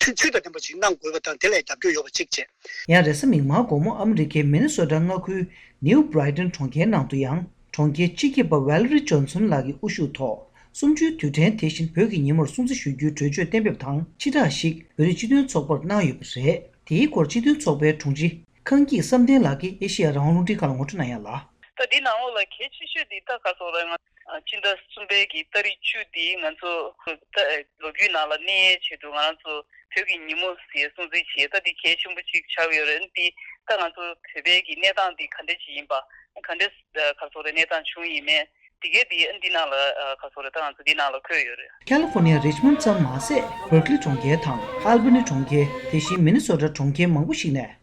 ཚུལ་དང་ལྡན་པ་ཞིག་གནང་དགོས་པ་དང་དེ་ལ་རྒྱབ་སྐྱོར་ཡོད་པ་གཅིག་བྱས། ཡང་རེས་མིག་དམར་དགོང་མོ་ཨ་མི་རི་ཀའི་མེ་ནི་སོ་ཏྲ་མངའ་ཁུལ New Brighton གྲོང་ཁྱེར་ནང་དུ་ཡང་གྲོང་ཁྱེར་སྤྱི་ཁྱབ་པ Valerie Johnson ལགས་ཀྱི་དབུ་བཞུགས་ཐོག་གསུམ་བཅུའི་དུས་དྲན་དེ་བཞིན་བོད་ཀྱི་ཉིན་མོར་སྲུང་བརྩི་ཞུ་རྒྱུའི་གྲོས་ཆོད་གཏན་འབེབས་དང་ཕྱི་དྲག་ཞིག་བོད་རིགས་སྤྱི་མཐུན་ཚོགས་པར་གནང་ཡོད་པ་རེད། དེའི་སྐོར་སྤྱི་མཐུན་ཚོགས་པའི་དྲུང་ཆེ་ཁང་སྐྱིད་བསམ་གཏན་ལགས་ཀྱིས་ཨེ་ཤེ་ཡ་རང་དབང་རླུང་འཕྲིན་ཁང་ལ་ངོ་སྤྲོད་གནང་ཡང་ལ། ད་འདི་ནང་ལོགས་ལ་གལ་ཆེ་ཤོས་འདི་ད་ག་སོང་ར་ང། སྤྱི་ཟླ་གསུམ་པའི་གི་སྟག་རི་ཆུ་འདིས་ང་ཚོ་ལོ་རྒྱུས་ནང་ལ་གནས་ཡའི་ཆེད་དུ་ང་རང་ཚོ་བོད་ཀྱི་ཉིན་མོ་ཞེས་སྲུང་བརྩི་བྱས་ད་འདི་གལ་ཆེན་པོ་གཅིག་ཆགས་ཡོད་རེད་འདི་ད་ང་ཚོ་བོད་པའི་གི་གནས་སྟངས་འདི་ག་འདྲ་ཞིག་ཡིན་པ་ག་འདྲ་ག་སོགས་རེད་གནས་སྟངས་བྱུང་ཡིན་མེད་འདི་གའི་འདི་འདི་ནང་ལ་ག་སོགས་རེད་ད་ང་ཚོ་འདི་ནང་ལ་འཁོད་ཡོད་རེད། California Richmond ཙམ་མ་ཟད Berkeley གྲོང་ཁྱེར་དང Albany གྲོང་ཁྱེར་དེ་བཞིན Minnesota གྲོང་ཁྱེར་མང་པོ་ཞིག་ནས་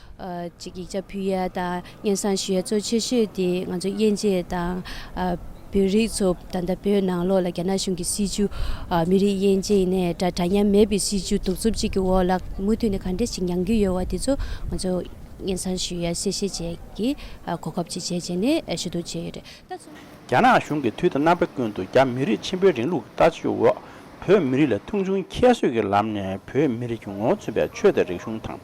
ཅིག་ཡིག་ཆ་ཕུལ་ཡས་དང་སྙན་བཟང་ཞུ་ཡས་གཙོ་ཆེ་ཤོས་དེ་ང་ཚོ་དབྱེ་འབྱེད་དང། བོད་རིགས་ཚོ་ད་ལྟ་བོད་ནང་ལོགས་ལ་རྒྱ་ནག་གཞུང་གི་སྲིད་ཇུས། མི་རིགས་དབྱེ་འབྱེད་ནས་དགྲ་དྲ་མཉམ་མེད་པའི་སྲིད་ཇུས་གདུག་རྩུབ་ཅིག་གི་འོག་ལ་མུ་མཐུད་ནས་ག་འདྲས་ཤིག་མྱངས་ཀྱི་ཡོད་བ་དེ་ཚོ་ང་ཚོ་སྙན་བཟང་ཞུ་ཡས་གསལ་བཤད་བྱས་ཀྱི་གོ་སྐབས་ཅིག་བྱས་བྱས་ནས་ཞུ་གཏུག་བྱས་ཡོད་རེད། རྒྱ་ནག་གཞུང་གིས་དུས་དང་རྣམ་པ་ཀུན་ཏུ་རྒྱ་མི་རིགས་ཆེན་པོའི་རིང་ལུགས་ཀྱི་ལྟ་སྤྱོད་འོག་བོད་མི་རིགས་ལ་མཐོང་ཆུང་ཁྱད་གསོད་ཀྱི་ལམ་ནས་བོད་མི་རིགས་ཀྱི་ངོ་བོ་མཚོན་པའི་ཆོས་དང་རིག་གཞུང་དང་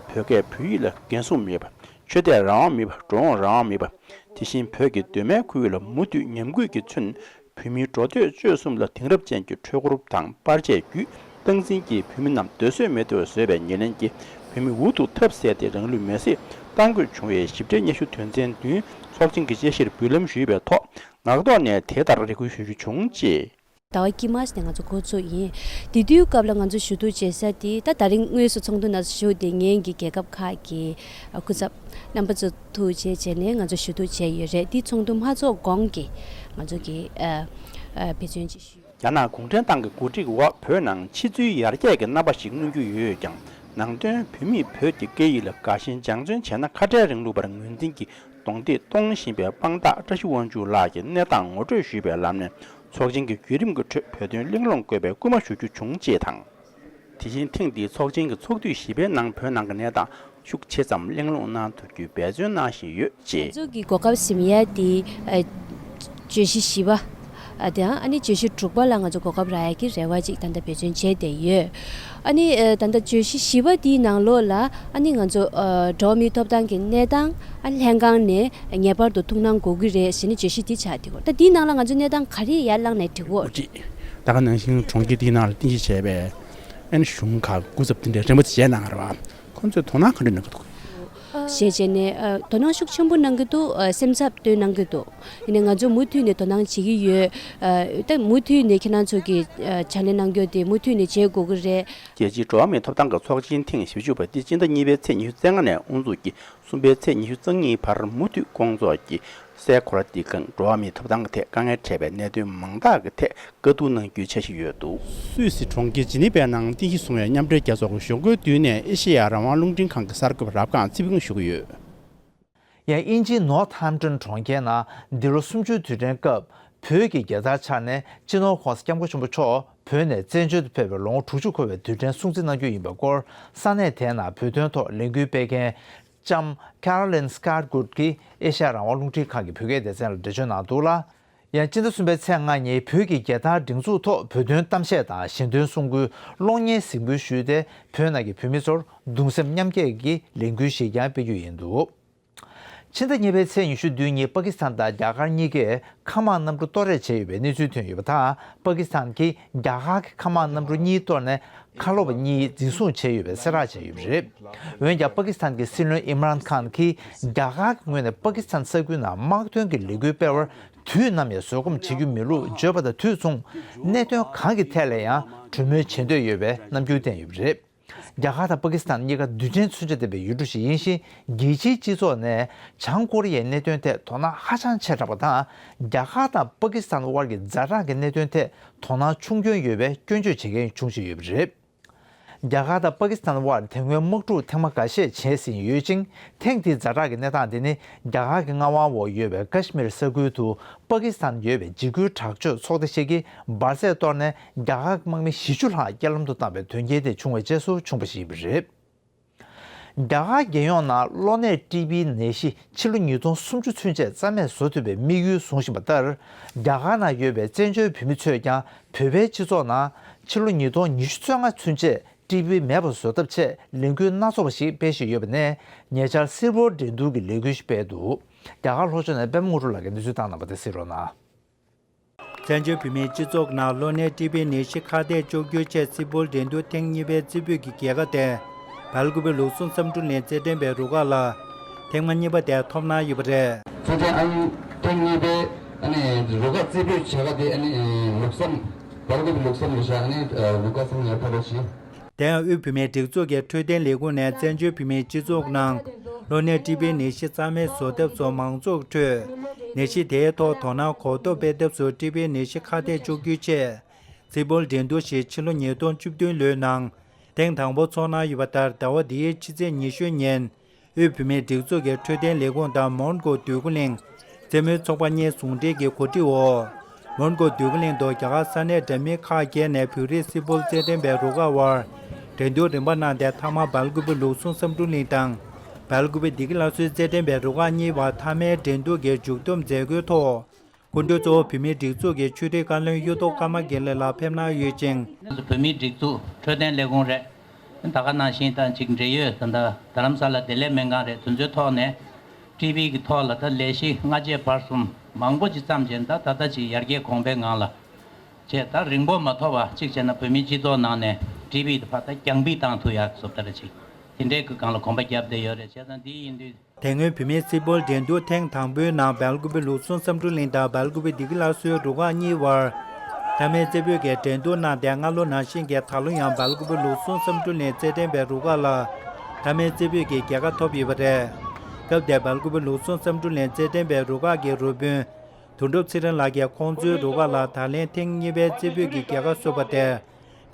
བོད་སྐད་བོད་ཡིག་ལ་འགན་སྲུང་མེད་པ། ཆོས་དད་རང་དབང་མེད་པ་འགྲོ་འོང་རང་དབང་མེད་པ། དེ་བཞིན་བོད་ཀྱི་གདོད་མའི་ཁུལ་ལ་མུ་མཐུད་ཉམས་རྒུད་ཀྱིས་མཚོན། བོད་མིའི་འགྲོ་སྡོད་སྤྱོད་གསུམ་ལ་དེང་རབས་ཅན་གྱི་འཕྲུལ་འཁོར་དང་པར་ཆས་བརྒྱུད་སྟངས་འཛིན་གྱིས་བོད་མི་རྣམས་སྡོད་གསོལ་མེད་དུ་བཟོས་པའི་ཉེར་ལེན་གྱིས་བོད་མི་འུ་ཐུག་ཐབས་ཟད་དེ་རང་ལུས་མེར་སྲེག་གཏང་དགོས་བྱུང་བའི་ཞིབ་ཕྲའི་སྙན་ཞུ་དོན་ཚན་བདུན་ཚོགས་ཆེན་གྱི་དཔྱད་གཞིར་འབུལ་ལམ་ཞུས་པའི་ཐོག་ངག་ཐོག་ནས་དེ་ལྟར་རེ་སྐུལ་ཞུ་རྒྱུ་བྱུང། ཟླ་བ་དཀྱིལ་མ་ཞིག་ནས་ང་ཚོ་འགོ་ཚུགས་ཡིན། དེ་དུས་སྐབས་ལ་ང་ཚོ་ཞུ་གཏུག་བྱེད་ས་དེ་ད་ད་རིང་དངོས་སུ་ཚོགས་འདུ་ནང་ཞུགས་ཏེ་ངེད་ཀྱི་རྒྱལ་ཁབ་ཁག་གི་སྐུ་ཚབ་རྣམ་པ་ཚོ་ཐུག་འཕྲད་བྱས་ནས་ང་ཚོ་ཞུ་གཏུག་བྱས་ཡོད་རེད་དེ་ཚོགས་འདུ་མ་ཚོགས་གོང་གི་ང་ཚོ་གི་འབད་བརྩོན་ཅིག་ཞུས། རྒྱ་ནག་གུང་ཁྲན་ཏང་གི་འགོ་ཁྲིད་འོག་བོད་ནང་ཕྱི་ཚུལ་ཡར་རྒྱས་ཀྱི་རྣམ་པ་ཞིག་མངོན་རྒྱུ་ཡོད་ཀྱང་ནང་དོན་བོད་མིས་བོད་ཀྱི་སྐད་ཡིག་ལ་དགའ་ཞེན་སྦྱང་བརྩོན་བྱས་ན་ཁ་བྲལ་རིང་ལུགས་པར་ངོས་འཛིན་གྱིས་རྡུང་རྡེག་གཏོང་བཞིན་པའི་དཔང་རྟགས་བཀྲ་ཤིས་དབང་ཕྱུག་ལགས་ཀྱི་གནས་སྟངས་ངོ་སྤྲོད་ཞུས་པའི་ལམ་ནས་ཚོགས་ཆེན་གྱི་བརྒྱུད་རིམ་གྱི་ཁྲོད་བོད་དོན་གླེང་སློང་དགོས་པའི་སྐུལ་མ་ཞུ་རྒྱུ་བྱུང་ཅེས་དང། དེ་བཞིན་ཐེངས་འདིའི་ཚོགས་ཆེན་གྱི་ཚོགས་དུས་བཞི་པའི་ནང་བོད་ནང་གི་གནས་སྟངས་ཤུགས་ཆེ་ཙམ་གླེང་སློང་གནང་ཐུབ་རྒྱུའི་འབད་བརྩོན་གནང་བཞིན་ཡོད་ཅེས། རྩ་འཛུགས་ཀྱི་གོ་སྐབས་གཟིམ་ཡས་དེའི་བརྗོད་གཞི་བཞི་པ། དེའང་ཨ་ནི་བརྗོད་གཞི་དྲུག་པ་ལ་ང་ཚོ་གོ་སྐབས་རག་ཡ་གི་རེ་བ་ཅིག་ད་ལྟ་བེད་སྤྱོད་བྱས་བསྡད་ཡོད། ཨ་ནི་ད་ལྟ་བརྗོད་གཞི་བཞི་པ་དེའི་ནང་ལོགས་ལ་ཨ་ནི་ང་ཚོ་འགྲོ་མིའི་ཐོབ་ཐང་གི་གནས་སྟངས་ཨ་ལྷན་ཁང་ནས་ངེས་པར་དུ་ཐུགས་སྣང་དགོས་ཀྱི་རེད་ཞེས་ནི་བརྗོད་གཞི་དེ་ཆགས་འདུག་ད་དེའི་ནང་ལ་ང་ཚོའི་གནས་སྟངས་ག་རེ་ཡར་བླངས་ནས་འགྲིག་འོ། ད་ག་ནང་བཞིན་གྲོང་ཁྱེར་དེའི་ནང་ལ་རྟེན་གཞི་བྱས་པའི་ཨ་ནི་གཞུང་ཁག་དགུ་ཚབ་དེ་འདྲའི་རེ་འབོད་བྱས་གནང་ཡོད་རེད་བ། ཁོ་ཚོས་དོ་སྣང་གང་འདྲ་གནང་གི་འདུག། ཞེས་བྱས་ནས་དོ་སྣང་ཤུགས་ཆེན་པོ་གནང་གི་འདུག་སེམས་འཚབ་བཏོན་གནང་གི་འདུག་དེ་ནས་ང་ཚོ་མུ་མཐུད་ནས་དོ་སྣང་བྱེད་ཀྱི་ཡོད། ད་མུ་མཐུད་ནས་ཁྱེད་རང་ཚོ་གི་ཕྱག་ལས་གནང་སྐྱོང་དེ་མུ་མཐུད་ནས་བྱེད་དགོས་ཀྱི་རེད། རྒྱལ་སྤྱིའི་འགྲོ་བ་མིའི་ཐོབ་ཐང་གི་ཚོགས་ཆེན་ཐེངས་ཞེ་བཅུ་པ་འདི་སྤྱི་ཟླ་གཉིས་པའི་ཚེས་ཉི་ཤུ་རྩེ་ལྔ་ནས་དབུ་འཛུགས་ཀྱིས་གསུམ་པའི་ཚེས་ཉི་ཤུ་རྩ་གཉིས་བར་མུ་མཐུད་སྐོང་ཚོགས་ཀྱིས་སའི་གོ་ལ་འདི་གའང་འགྲོ་བ་མིའི་ཐོབ་ཐང་གི་ཐད་དཀའ་ངལ་འཕྲད་པའི་གནད་དོན་མང་དག་གི་ཐད་དཀའ་སྡུག་གནང་རྒྱུའི་ཆ་ཞིག་ཡོད་འདུག། སུད་སི་གྲོང་ཁྱེར་ཇི་ནི་ཝའི་ནང་རྟེན་གཞི་བཟུང་བའི་མཉམ་འབྲེལ་རྒྱལ་ཚོགས་ཀྱི་གཞུང་འཁོས་བསྡུས་ནས་ཨེ་ཤེ་ཡ་རང་དབང་རླུང་འཕྲིན་ཁང་གི་གསར་འགོད་རབ་ཁང་ཚི་བྷིང་བཞུགས་ཡོད། ཡང་དབྱིན་ཇིའི་ནོར་ཐ་ཧམ་ཏོན་གྲོང་ཁྱེར་ནང་འདི་ལོ་གསུམ་བཅུའི་དུས་དྲན་སྐབས་བོད་ཀྱི་རྒྱལ་དར་འཕྱར་ནས་སྤྱི་ནོར་ཁོང་སྐྱབས་མགོན་ཆེན་པོ་མཆོག་བོད་ནས་བཙན་བྱོལ་དུ་ཕེབས་པའི་ལོ་ངོ་དྲུག་ཅུ་འཁོར་བའི་དུས་དྲན་སྲུང་བརྩི་གནང་རྒྱུ་ཡིན་པའི་སྐོར་ས་གནས་དེའི་ནང་བོད་དོན་ཐོག་ལས་འགུལ་སྤེལ་མཁན་ལྕམ Carolyn Scott Good གྱིས་ཨེ་ཤ་ཡ་རང་དབང་རླུང་འཕྲིན་ཁང་གི་བོད་སྐད་སྡེ་ཚན་ལ་འགྲེལ་བརྗོད་གནང་འདུག་ལ། ཡང་སྤྱི་ཟླ་གསུམ་པའི་ཚེས་ལྔ་ཉིན་བོད་ཀྱི་རྒྱལ་དར་སྒྲེང་འཛུགས་ཐོག་བོད་དོན་གཏམ་བཤད་དང་གཞན་དོན་གསུང་སྐུའི་གློག་བརྙན་གཟིགས་འབུལ་ཞུས་ཏེ་བོད་ནང་གི་བོད་མི་ཚོར་གདུང་སེམས་མཉམ་སྐྱེད་ཀྱི་ལས་འགུལ་ཞིག་ཀྱང་སྤེལ་རྒྱུ་ཡིན་འདུག་ཕྱི་ཟླ་གཉིས་པའི་ཚེས་ཉི་ཤུ་བདུན་ཉིན་པ་ཀི་སི་ཐན་དང་རྒྱ་གར་གཉིས་ཀས་མཁའ་དམག་གནམ་གྲུ་གཏོར་རེག་བྱས་ཡོད་པའི་གནས་ཚུལ་ཐོན་ཡོད་པ་དང་པ་ཀི་སི་ཐན་གྱིས་རྒྱ་གར་གྱི་མཁའ་དམག་གནམ་གྲུ་གཉིས་གཏོར་ནས་མཁའ་སློབ་གཉིས་འཛིན་བཟུང་བྱས་ཡོད་པའི་གསལ་བསྒྲགས་བྱས་ཡོད་པ་རེད། འོན་ཀྱང་པ་ཀི་སི་ཐན་གྱི་སྲིད་བློན་ཨི་མཱརན་ཁཱན་གྱིས་རྒྱ་གར་གྱི་ངོས་ནས་པ་ཀི་སི་ཐན་ས་ཁུལ་ནང་དམག་དོན་གྱི་ལས་འགུལ་སྤེལ་བར་དུས་ནམ་ཡང་བཟོད་སྒོམ་བྱེད་རྒྱུ་མེད་ལུགས་བརྗོད་པ་དང་དུས་མཚུངས་གནད་དོན་གང་གི་ཐད་ལ་ཡང་གྲོས་མོལ་བྱེད་འདོད་ཡོད་པའི་རྣམ་འགྱུར་བསྟན་ཡོད་པ་རེད། རྒྱ་གར་དང་པ་ཀི་སི་ཐན་གཉིས་ཀ་རྡུལ་ཕྲན་མཚོན་ཆ་ལྡན་པའི་ཡུལ་གྲུ་ཞིག་ཡིན་ཞིང་རྒྱལ་སྤྱིའི་སྤྱི་ཚོགས་ནས་བྱང་ཀོ་རི་ཡའི་གནད་དོན་ཐད་དོ་སྣང་ཧ་ཅང་ཆེ་དྲགས་པ་དང་རྒྱ་གར་དང་པ་ཀི་སི་ཐན་དབར་གྱི་འཛའ་དྲག་གི་གནད་དོན་ཐད་དོ་སྣང་ཆུང་སྐྱོན་ཡོད་པའི་སྐྱོན་བརྗོད་བྱེད་མཁན་འབྱུང་བཞིན་ཡོད་པ་རེད། རྒྱ་གར་དང་པ་ཀི་སི་ཐན་དབར་དེ་སྔོན་དམག་འཁྲུག་ཐེངས་མ་འགའ་ཤས་བྱས་ཟིན་ཡོད་ཅིང་ཐེངས་འདིའི་འཛའ་དྲག་གི་གནས་སྟངས་དེ་ནི་རྒྱ་གར་གྱི་མངའ་དབང་འོག་ཡོད་པའི་ཀཱཤ་མིར་ས་ཁུལ་དུ་པ་ཀི་སི་ཐན་ཡོད་པའི་འཇིགས་སྐུལ་དྲག་སྤྱོད་ཚོགས་སྡེ་ཞིག་གིས་འབར་རྫས་གཏོར་ནས་རྒྱ་གར་དམག་མི་བཞི་བཅུ་ལྷག་རྐྱེན་ལམ་དུ་བཏང་བའི་དོན་རྐྱེན་དེ་བྱུང་བའི་རྗེས་སུ་བྱུང་པ་ཞིག་རེད། རྒྱ་གར་རྒྱལ་ཡོངས་ནང་གློ་ནད་ཀྲི་པིའི་ནད་གཞི་ཕྱི་ལོ་ཉིས་སྟོང་སུམ་ཅུ་ཚུན་ཆད་རྩ་མེད་བཟོ་ཐུབ་པའི་དམིགས་ཡུལ་བཟུང་བཞིན་པ་ལྟར་རྒྱ་གར་ནང་ཡོད་པའི་བཙན་བྱོལ་བོད་མི་ཚོས་ཀྱང་བོད་པའི་སྤྱི་ཚོགས་ནང་ཕྱི་ལོ་ཉིས་སྟོང་ཉི་ཤུ་ཚོད་ལྔ་ཚུན་ཆད་ཀྲི་པི་མེད་པ་བཟོ་ཐབས་ཆེད་ལས་འགུལ་སྣ་ཚོགས་པ་ཞིག་སྤེལ་བཞིན་ཡོད་པ་ནས་ཉེ་ཆར་སིལ་བུར་འགྲན་བསྡུར་གྱི་ལས་འགུལ་ཞིག་སྤེལ་འདུག་རྒྱ་གར་ལྷོ་ཕྱོགས་ནས་པད་མ་དངོས་གྲུབ་ལགས་ཀྱིས་འདི་ཚོའི་སྟངས་དང་པོ་དེ་གསལ་རོགས་གནང། བཙན་བྱོལ་བོད་མིའི་སྤྱི་ཚོགས་ནང་གློ་ནད་ཀྲི་པི་ནད་གཞི་ཁ་གཏད་གཅོག་རྒྱུའི་ཆེད་སིལ་བུར་འགྲན་བསྡུར་ཐེངས་གཉིས་པའི་རྩེ་ཕུད་ཀྱི་རྒྱལ་ཁ་དེ། བལ་དགུ་པའི་ལུགས་ཟུང་བསམ་འགྲུབ་ལེན་རྩེ་སྟོན་པའི་རུ་ཁག་ལ། ཐེངས་མ་གཉིས་པ་དེ་ཐོབ་གནང་ཡོད་པ་རེད། ཚེ་བརྟན་ཨང། ཐེངས་གཉིས་པའི་རུ་ཁག་རྩེ་ཕུད་བྱ་དགའ་དེ། ལུགས་བསམ། བལ་དགུ་པའི་ལུགས་བསམ་ལ་བཞག་ནས་རུ་ཁག་ཚང་ཡར་འཕར་བ་བྱས། དེ་ཡང་དབུས་བུད་མེད་སྒྲིག་འཛུགས་ཀྱི་འཕྲོད་བསྟེན་ལས་ཁུངས་ནས་བཙན་བྱོལ་བུད་མེད་སྤྱི་ཚོགས་ནང་གློ་ནད་འདྲིས་པའི་ནད་གཞི་རྩ་མེད་བཟོ་ཐབས་སོགས་མང་ཚོགས་ཁྲོད་ནད་གཞི་དེའི་ཐོག་དོ་སྣང་གོ་རྟོགས་སྤེལ་ཐབས་སུ་འདྲིས་པའི་ནད་གཞི་ཁ་གཏད་གཅོག་རྒྱུའི་ཆེད་རྩིས་འབུལ་འགྲན་བསྡུར་ཞིག་ཕྱི་ལོ་ཉིས་སྟོང་བཅུ་བདུན་ལོའི་ནང་ཐེངས་དང་པོ་འཚོགས་གནང་ཡོད་པ་ལྟར་ཟླ་བ་འདིའི་ཕྱི་ཚེས་ཉི་ཤུ་ཉིན། དབུས་བུད་མེད་སྒྲིག་འཛུགས་ཀྱི་འཕྲོད་བསྟེན་ལས་ཁུངས་དང་མོན་གྷོ་དུས་ཀུན་གླེང། རྩེད་མོའི་ཚོགས་པ་གཉིས་ཟུང་འབྲེལ་གྱིས་གོ་སྒྲིག་འོག། མོན་གྷོ་དུས་ཀུན་གླེང་དུ་རྒྱ་གར་ས་གནས་འདྲ་མིན་ཁག་བརྒྱད་ནས་བོད་རིགས་སིལ་བུར་རྩེད་འགྲན་པའི་རུ་ཁག་དབར་འགྲན་བསྡུར་རིམ་པ་གནང་སྟེ་མཐའ་མར་སྦལ་གུ་བོ་ལུགས་ཟུང་བསམ་འགྲུབ་གླིང་དང། སྦལ་གུ་བོ་སྡེ་དགེ་བླ་སྲོལ་རྩེད་འགྲན་པའི་རུ་ཁག་གཉིས་དབར་མཐའ་མའི་འགྲན་བསྡུར་གྱི་མཇུག་བསྡོམས་མཛད་སྒོའི་ཐོག། སྐུ་མགྲོན་གཙོ་བོ་བོད་མིའི་སྒྲིག་འཛུགས་ཀྱི་ཆོས་དྲིལ་བཀའ་བློན་གཡུ་ཐོག་ཀརྨ་དགེ་ལེགས་ལགས་ཕེབས་གནང་ཡོད་ཅིང། བོད་མིའི་སྒྲིག་འཛུགས་འཕྲོད་བསྟེན་ལས་ཁུངས་རེད། ད་ག་ནང་བཞིན་ད་ཅིག་འབྲེལ་ཡོད་ད་རྡ་རམ་ས་ལ་བདེ་ལེགས་སྨན་ཁང་རེད་དུ་འཛོལ་ཐོག་ནས། ཀྲི་བྷི་གི་ཐོག་ལ་ད་ལས་གཞི་སྔ་རྗེས་བར་གསུམ་མང་པོ་ཅིག་བརྩམས་རྗེས་ད་ད་ད་ཅིག་ཡར་རྒྱས་གོང་འཕེལ་ངང་ལ། བྱས་ད་རིང་པོ་མ་ཐོག་པ་ཅིག་བྱས་ན་བོད་མིའི་སྤྱི་ཚོགས་ནང་ནས་ཀྲི་བྷི་ད་ཕ་ད་རྒྱང་བྷི་བཏང་ཐུག་ཡག་གསོབ་ད་ར་ཅིག་དེ་འདྲའི་གི་གང་ལ་གོམ་པ་རྒྱབ་བསྡད་ཡོད་རེད་བྱས་ད་འདི་ཡིན་དུས། དེ་སྔོན་བུད་མེད་སིལ་སྤོལ་འགྲན་བསྡུར་ཐེངས་དང་པོའི་ནང་སྦལ་ཀུ་བོའི་ལུགས་ཟུང་བསམ་འཕྲུལ་གླིང་དང་སྦལ་ཀུ་བོའི་སྡེ་དགེ་སླར་གསོའི་རུ་ཁག་གཉིས་དབར་མཐའ་མའི་རྩེ་ཕུད་ཀྱི་འགྲན་བསྡུར་གནང་སྟེ་སྔ་ལོ་ནང་བཞིན་གྱི་ད་ལོ་ཡང་སྦལ་ཀུ་བོའི་ལུགས་ཟུང་བསམ་འཕྲུལ་གླིང་རྩེད་འགྲན་པའི་རུ་ཁག་ལ་མཐའ་མའི་རྩེ་ཕུད་ཀྱི་རྒྱལ་ཁ་ཐོབ་ཡོད་པ་རེད། སྐབས་དེར་སྦལ་ཀུ་བོའི་ལུགས་ཟུང་བསམ་འཕྲུལ་གླིང་རྩེད་འགྲན་པའི་རུ་ཁག་གི་རུ་དཔོན་དོན་གྲུབ་ཚེ་རིང་ལགས་ཀྱིས་ཁོང་ཚོའི་རུ་ཁག་ལ་ད་ལན་ཐེངས་གཉིས་པའི་རྩེ་ཕུད་ཀྱི་རྒྱལ་ཁ་གསོས་པ་དེར།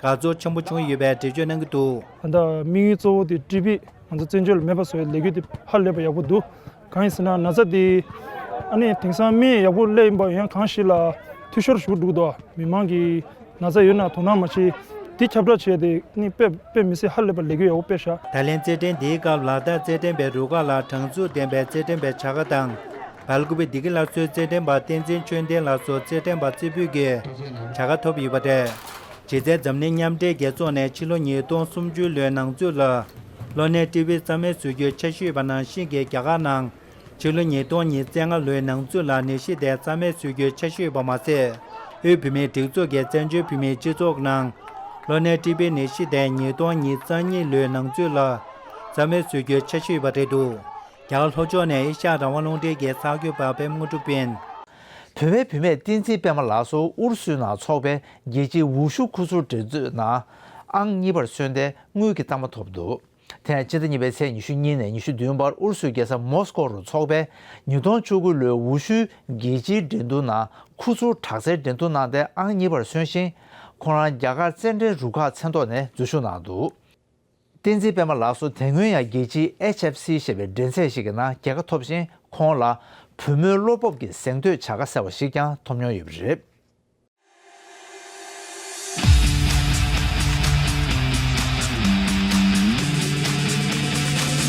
དགའ་ཚོར་ཆེན་པོ་བྱུང་ཡོད་པའི་འགྲེལ་བརྗོད་གནང་གི་འདུག། ད་ལྟ་དམིགས་ཡུལ་གཙོ་བོ་དེ་ཀྲི་པིས་ང་ཚོ་བཙན་བྱོལ་ལ་མེད་པ་བཟོ་བའི་ལས་འགུལ་དེ་ཧ་ལས་པ་ཡག་པོ་འདུག་གང་ཡིན་ཟེར་ན་ན་ཚ་དེ་ཨ་ནི་དེང་སང་མི་ཡག་པོ་ཀླད་ཡིན་པ་ཡང་གང་ཞིག་ལ་འཐུས་ཤོར་ཞུགས་འདུག་དོ་མི་དམངས་ཀྱི་ན་ཚ་ཡོད་ན་དོ་སྣང་མ་བྱེད་དེ་ཁྱབ་བསྒྲགས་བྱས་དེ་ཨ་ནི་དཔེ་མི་སྲིད་ཧ་ལས་པ་ལས་འགུལ་ཡག་པོ་སྤེལ་ཤག། ད་ལན་རྩེད་འགྲན་འདིའི་སྐབས་ལ་དྭགས་རྩེད་འགྲན་པའི་རུ་ཁག་ལ་དྲང་ཚུགས་ལྡན་པའི་རྩེད་འགྲན་པའི་བྱ་དགའ་དང། བལ་ཀུ་བི་སྡི་ཀི་སླར་གསོའི་རྩེད་འགྲན་པ་བསྟན་འཛིན་ཆོས་ལྡན་ལགས་སུ་རྩེད་འགྲན་པ་རྩེ་ཕུད་ཀྱི་བྱ་དགའ་ཐོབ་ཡོད་པ་རེད། གཞི་རྩའི་འཛམ་གླིང་མཉམ་འབྲེལ་རྒྱལ་ཚོགས་ནས་ཕྱི་ལོ་ཉིས་སྟོང་སུམ་ཅུ་ལོའི་ནང་ཚུད་ལ། ལོ་ནའི་ཀྲི་བྷི་རྩ་མེད་བཟོ་རྒྱུའི་ཆ་ཞུས་པ་ནང་བཞིན་གྱི་རྒྱ་གར་ནང། ཕྱི་ལོ་ཉིས་སྟོང་ཉིས་བརྩེགས་ལྔ་ལོའི་ནང་ཚུད་ལ་ནད་གཞི་དེ་རྩ་མེད་བཟོ་རྒྱུའི་ཆ་ཞུས་པ་མ་ཟད། དབུས་བུད་མེད་སྒྲིག་འཛུགས་ཀྱི་བཙན་བྱོལ་བུད་མེད་སྤྱི་ཚོགས་ནང། ལོ་ནའི་ཀྲི་བྷི་ནད་གཞི་དེ་ཉིས་སྟོང་ཉིས་བརྩ་གཉིས་ལོའི་ནང་ཚུད་ལ། རྩ་མེད་བཟོ་རྒྱུའི་ཆ་ཞུས་པ་རེད་འདུག་རྒྱ་གར་ལྷོ་ཕྱོགས་ནས་ཨེ་ཤ་ཡ་རང་དབང་རླུང་འཕྲིན་གྱི་གསར་འགྱུར་པ་བེམ་དངོས་གྲུབ་དབེན། བོད་པའི་བུད་མེད་བསྟན་འཛིན་པད་མ་ལགས་སུ་ཨུ་རུ་སུའི་ནང་ཚོགས་པའི་རྒྱལ་སྤྱིའི་འུར་ཤུགས་ཁུ་ཚུར་འགྲན་རྩོད་ནང་ཨང་གཉིས་པར་སོན་ཏེ་དངུལ་གྱི་རྟགས་མ་ཐོབ་འདུག་དེ་ཡང་ཕྱི་ཟླ་གཉིས་པའི་ཚེས་ཉི་ཤུ་གཉིས་ནས་ཉི་ཤུ་བདུན་བར་ཨུ་རུ་སུའི་རྒྱལ་ས་མོ་སི་ཀོ་རུ་ཚོགས་པའི་ཉིས་སྟོང་བཅུ་དགུ་ལོའི་འུར་ཤུལ་རྒྱལ་སྤྱིའི་འགྲན་བསྡུར་ནང་ཁུ་ཚུར་དྲག་རྩལ་འགྲན་བསྡུར་གནང་སྟེ་ཨང་གཉིས་པར་སོན་ཞིང། ཁོང་རང་རྒྱ་གར་རྩེད་འགྲན་རུ་ཁག་མཚན་ཐོག་ནས་འཛུལ་ཞུགས་གནང་འདུག། བསྟན་འཛིན་པད་མ་ལགས་སུ་དེ་སྔོན་ཡང་རྒྱལ་སྤྱིའི HFC ཞེས་པའི་འགྲན་ཚད་ཞིག་གི་ནང་རྒྱལ་ཁ་ཐོབ་ཅིང་ཁོང་ལ་བུ་མོའི་བློ་སྤོབས་ཀྱི་གཟེངས་བསྟོད་བྱ་དགའ་ཟེར་བ་ཞིག་ཀྱང་ཐོབ་མྱོང་ཡོད་པ་རེད།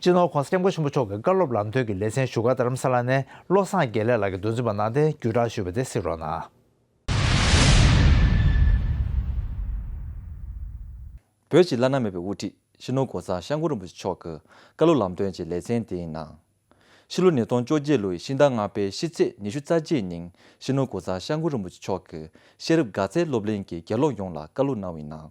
སྤྱི་ནོར ྋགོང་ས ྋསྐྱབས་མགོན་ཆེན་པོ་མཆོག་གི་བཀའ་སློབ་ལམ་སྟོན་གྱི་ལེ་ཚན་བཞུགས་སྒར་རྡ་རམ་ས་ལ་ནས་བློ་བཟང་དགེ་ལེགས་ལགས་ཀྱི་མདོ་འཛིན་པ་ནང་བསྟན་བརྒྱུད་བསྒྲགས་ཞུས་པ་དེ་གཟིགས་རོགས་གནང། བོད་ཀྱི་བླ་ན་མེད་པའི་དབུ་ཁྲིད་སྤྱི་ནོར ྋགོང་ས ྋསྐྱབས་མགོན་རིན་པོ་ཆེ་མཆོག་གི་བཀའ་སློབ་ལམ་སྟོན་གྱི་ལེ་ཚན་དེའི་ནང། ཕྱི་ལོ་ཉིས་སྟོང་བཅོ་བརྒྱད་ལོའི་ཤིང་རྟ་རྔ་པའི་ཕྱི་ཚེས་ཉི་ཤུ་རྩ་བརྒྱད་ཉིན་སྤྱི་ནོར ྋགོང་ས ྋསྐྱབས་མགོན་རིན་པོ་ཆེ་མཆོག་གི་ཤེས་རབ་དགའ་ཚལ་སློབ་གླིང་གི་དགེ་སློབ་ཡོངས་ལ་བཀའ་སློབ་གནང་བའི་ནང།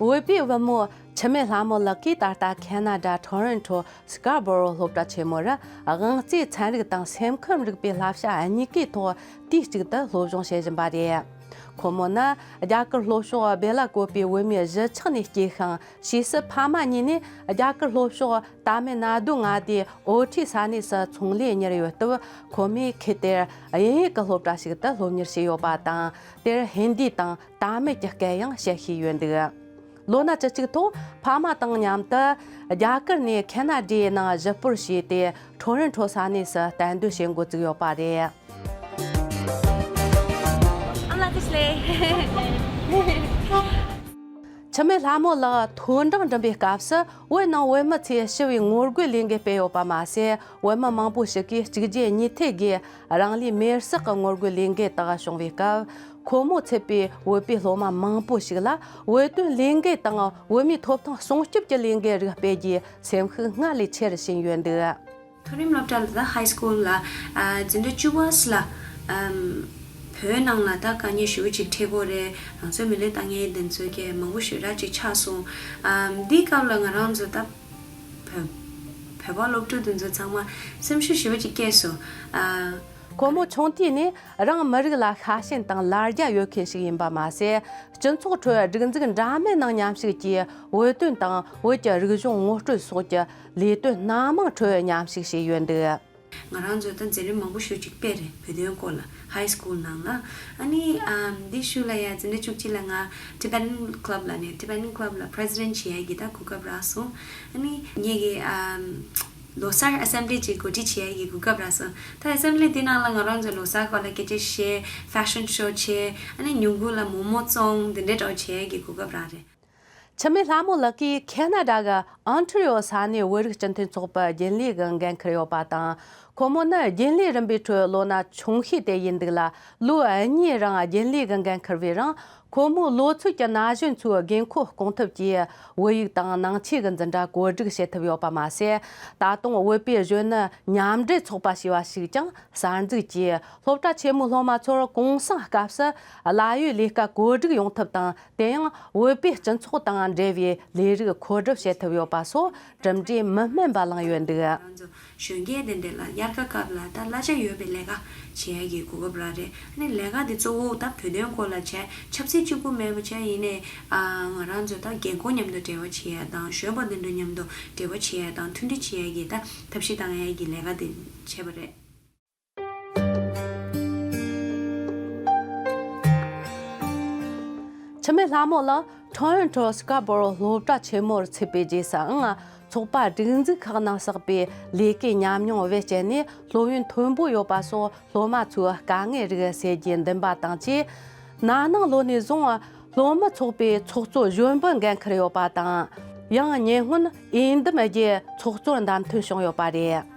འོས་པའི་དབུ་མོ། འཆི་མེད་ལྷ་མོ་ལགས་ཀྱིས་ད་ལྟ་ཁན་ན་ད་ཐོ་རོན་ཐོ Scarborough སློབ་གྲྭ་ཆེན་མོ་རུ་དབང་རྩའི་ཚན་རིག་དང་སེམས་ཁམས་རིག་པའི་བསླབ་བྱ་གཉིས་ཀའི་ཐོག་དུས་གཅིག་ཏུ་སློབ་སྦྱོང་བྱེད་བཞིན་པ་རེད། ཁོ་མོ་ནི་རྒྱ་གར་ལྷོ་ཕྱོགས་སྦེ་ལ་ཀོ་པའི་བོད་མིའི་གཞིས་ཆགས་ནས་སྐྱེས་ཤིང་ཕྱིས་སུ་ཕ་མ་གཉིས་ནས་རྒྱ་གར་ལྷོ་ཕྱོགས་དཱ་མེ་ན་རྡུ་མངའ་སྡེའི་ཨོ་ཁྲི་ས་གནས་སུ་ཚོང་ལས་གཉེར་ཡོད་སྟབས་ཁོ་མོས་ཁུལ་དེར་དབྱིན་ཡིག་གི་སློབ་གྲྭ་ཞིག་ཏུ་སློབ་གཉེར་བྱས་ཡོད་པ་དང་དེར་ཧིན་དི་དང་དཱ་མིལ་གྱི་སྐད་ཡང་བཤད་ཤེས་ཡོད་འདུག་ལོ་ན་བཅུ་གཅིག་ཐོག་ཕ་མ་དང་མཉམ་དུ་རྒྱ་གར་ནས་ཁེ་ན་རྡའི་ནང་གཞི་སྤོར་བྱས་ཏེ་ཁྲོ་རེན་ཁྲོ་ས་གནས་སུ་གཏན་སྡོད་བྱེད་འགོ་བཙུགས་ཡོད་པ་རེད། འཆི་མེད་ལྷ་མོ་ལགས་མཐོའི་འབྲིང་འགྲིམ་པའི་སྐབས་སུ་བོད་ནང་བོད་མི་ཚོས་ཞི་བའི་ངོ་རྒོལ་ལས་འགུལ་སྤེལ་ཡོད་པ་མ་ཟད་བོད་མི་མང་པོ་ཞིག་གིས་གཅིག་རྗེས་གཉིས་མཐུད་སྒོས་རང་ལུས་མེར་བསྲེགས་ཀྱི་ངོ་རྒོལ་ལས་འགུལ་དག་བྱུང་བའི་སྐབས་ཁོ་མོ་ཚུད་པའི་བོད་པའི་སློབ་མ་མང་པོ་ཞིག་ལ་བོད་དོན་ལས་འགུལ་དང་བོད་མིའི་ཐོབ་ཐང་སྲུང་སྐྱོབ་ཀྱི་ལས་འགུལ་རིགས་སྤེལ་རྒྱུའི་སེམས་ཤུགས་སྔར་ལས་ཆེ་རུ་ཕྱིན་ཡོད་འདུག། མཐོ་རིམ་སློབ་གྲྭ The High School ལ་འཛིན་གྲྭ་བཅུ་བསལ། བོད་ནང་ལ་ད་ག་ཉི་ཤུ་གཅིག་ཁྲི་གོ་རེ་རང་ཚོའི་མི་ལའི་ཏང་ངེ་འདུན་འཚོལ་མཁན་མང་པོ་ཞོད་རག་ཅིག་ཆགས་སོང། འདིའི་སྐབས་ལ་ང་རང་ཚོ་ད་བོད་པ་སློབ་ཕྲུག་དེ་ཚོ་ཚང་མ་སེམས་ཤུགས་ཞིབ་ཅིག་སྐྱེས་སོང། ཁོ་མོ་ཆུང་དུས་ནས་རང་མི་རིགས་ལ་ཤ་ཞེན་དང་ལར་རྒྱ་ཡོད་མཁན་ཞིག་ཡིན་པ་མ་ཟད། སྤྱི་ཚོགས་ཁྲོད་སྒྲིག་འཛུགས་འདྲ་མིན་ནང་ཉམས་ཞིབ་ཀྱིས་བོད་དོན་དང་བོད་ཀྱི་རིག་གཞུང་ངོ་སྤྲོད་སོགས་ཀྱི་ལས་དོན་སྣ་མང་ཁྲོད་མཉམ་ཞུགས་བྱས་ཡོད་འདུག། ང་རང་ཚོས་ད་འཛིན་རིམ་མང་པོ་ཞུ་གཅིག་སྤེལ་རེད་བོད་དོན་སྐོར་ལ high school ནང་ལ་ཨཱ་ནི་འདི་ཞུ་ལ་ཡ་འཛིན་རེ་བཅུ་གཅིག་ལ་ང Tibetan club ལ་ནས Tibetan club ལ president བྱེད་ཡ་གི་ད་གོ་སྐབས་རག་སོང་ཨཱ་ནི་ངེད་ཀྱི་ལོ་སར assembly གཅིག་གོ་སྒྲིག་བྱེད་ཡ་གི་གོ་སྐབས་རག་སོང་ད assembly དེ་ནང་ལ་ང་རང་ཚོས་ལོ་སར་སྐོར་ལ་སྐད་ཆ་བཤད fashion show བྱས་ཨཱ་ནི་ཉུང་གུ་ལ་མོ་མོ་བཙོང་འདི་འདྲའི་གྲོགས་བྱེད་ཡ་གི་གོ་སྐབས་རག་རེད། འཆི་མེད་ལྷ་མོ་ལགས་ཀྱིས་ཁེ་ན་རྡ་གི་ཨན་ཁྲི་ཡོ་ས་གནས་བོད་རིགས་སྤྱི་མཐུན་ཚོགས་པའི་རྒྱུན་ལས་ཀྱི་འགན་འཁུར་ཡོད་པ་དང། ཁོ་མོ་ནི་རྒྱུན་ལས་རིམ་པའི་ཁྲོད་ལོ་ན་ཆུང་ཤོས་དེ་ཡིན་འདུག་ལ་ལོ་གཉིས་རིང་རྒྱུན་ལས་ཀྱི་འགན་འཁུར་བའི་རིང་ཁོ་མོས་ལོ་ཚོད་ཀྱི་ན་གཞོན་ཚོའི་དགོས་མཁོ་སྐོང་ཐབས་ཀྱི་བོད་ཡིག་དང་ནང་ཆོས་ཀྱི་འཛིན་གྲྭ་བཀོད་སྒྲིག་བྱེད་ཐུབ་ཡོད་པ་མ་ཟད། ད་དུང་བོད་པའི་གཞོན་ནུ་མཉམ་འབྲེལ་ཚོགས་པ་ཞེས་པ་ཞིག་ཀྱང་གསར་འཛུགས་ཀྱིས་སློབ་གྲྭ་ཆེན་མོའི་སློབ་མ་ཚོར་གུང་སེང་སྐབས་སུ་གླ་ཡོད་ལས་ཀ་བཀོད་སྒྲིག་ཡོང་ཐབས་དང་དེ་ཡང་བོད་པའི་སྤྱི་ཚོགས་དང་འབྲེལ་བའི་ལས་རིགས་འཁོར་སྒྲུབ་བྱེད་ཐུབ་ཡོད་པ་སོགས་གྲུབ་འབྲས་མི་དམན་པ་བླངས་ཡོད་འདུག། ང་ཚོ་གཞོན་སྐྱེས་དེ་འདི་ལ་དབྱར་ཁ་སྐབས་ལ་ད་གླ་ཆ་ཡོད་པའི་ལས་ཀ་བྱེད་ཡ་གི་གོ་སྐབས་རག་རེད་ཨནི་ལས་ཀ་དེ་གཙོ་བོ་ད་བོད་དོན་སྐོར་ལ་བྱས་ཆབ་སྲིད་གཅིག་པུ་མེད་པ་བྱས་ཡིན་ནའི་ཨ་ང་རང་ཚོས་ད་རྒན་འཁོག་མཉམ་དུ་འབྲེལ་བ་བྱེད་ཡ་དང་གཞོན་པ་དེ་འདྲ་མཉམ་དུ་འབྲེལ་བ་བྱེད་ཡ་དང་མཐུན་སྒྲིལ་བྱེད་ཡ་གི་ད་ཐབས་ཤེས་གཏང་ཡ་གི་ལས་ཀ་དེ་བྱས་པ་རེད། འཆི་མེད་ལྷ་མོ་ལ Torrent Troll Scarborough སློབ་གྲྭ་ཆེན་མོར་ཚུད་པའི་རྗེས་སུའང་ཚོགས་པ་སྒྲིག་འཛུགས་ཁག་ནང་བསགས་པའི་ལས་ཀའི་ཉམས་མྱོང་བེད་སྤྱད་ནས་སློབ་ཡོན་མཐོན་པོ་ཡོད་པ་སོགས་སློབ་མ་ཚོའི་དཀའ་ངལ་རིགས་སེལ་རྒྱུའི་འདུན་པ་དང་བཅས། ན་ནིང་ལོ་ནས་བཟུང་སློབ་མ་ཚོགས་པའི་ཚོགས་གཙོ་གཞོན་པའི་འགན་འཁུར་ཡོད་པ་དང། ཡང་ཉེ་སྔོན་ཨིན་དམ་རྒྱལ་ཚོགས་གཙོར་བདམས་ཐོན་བྱུང་ཡོད་པ་རེད།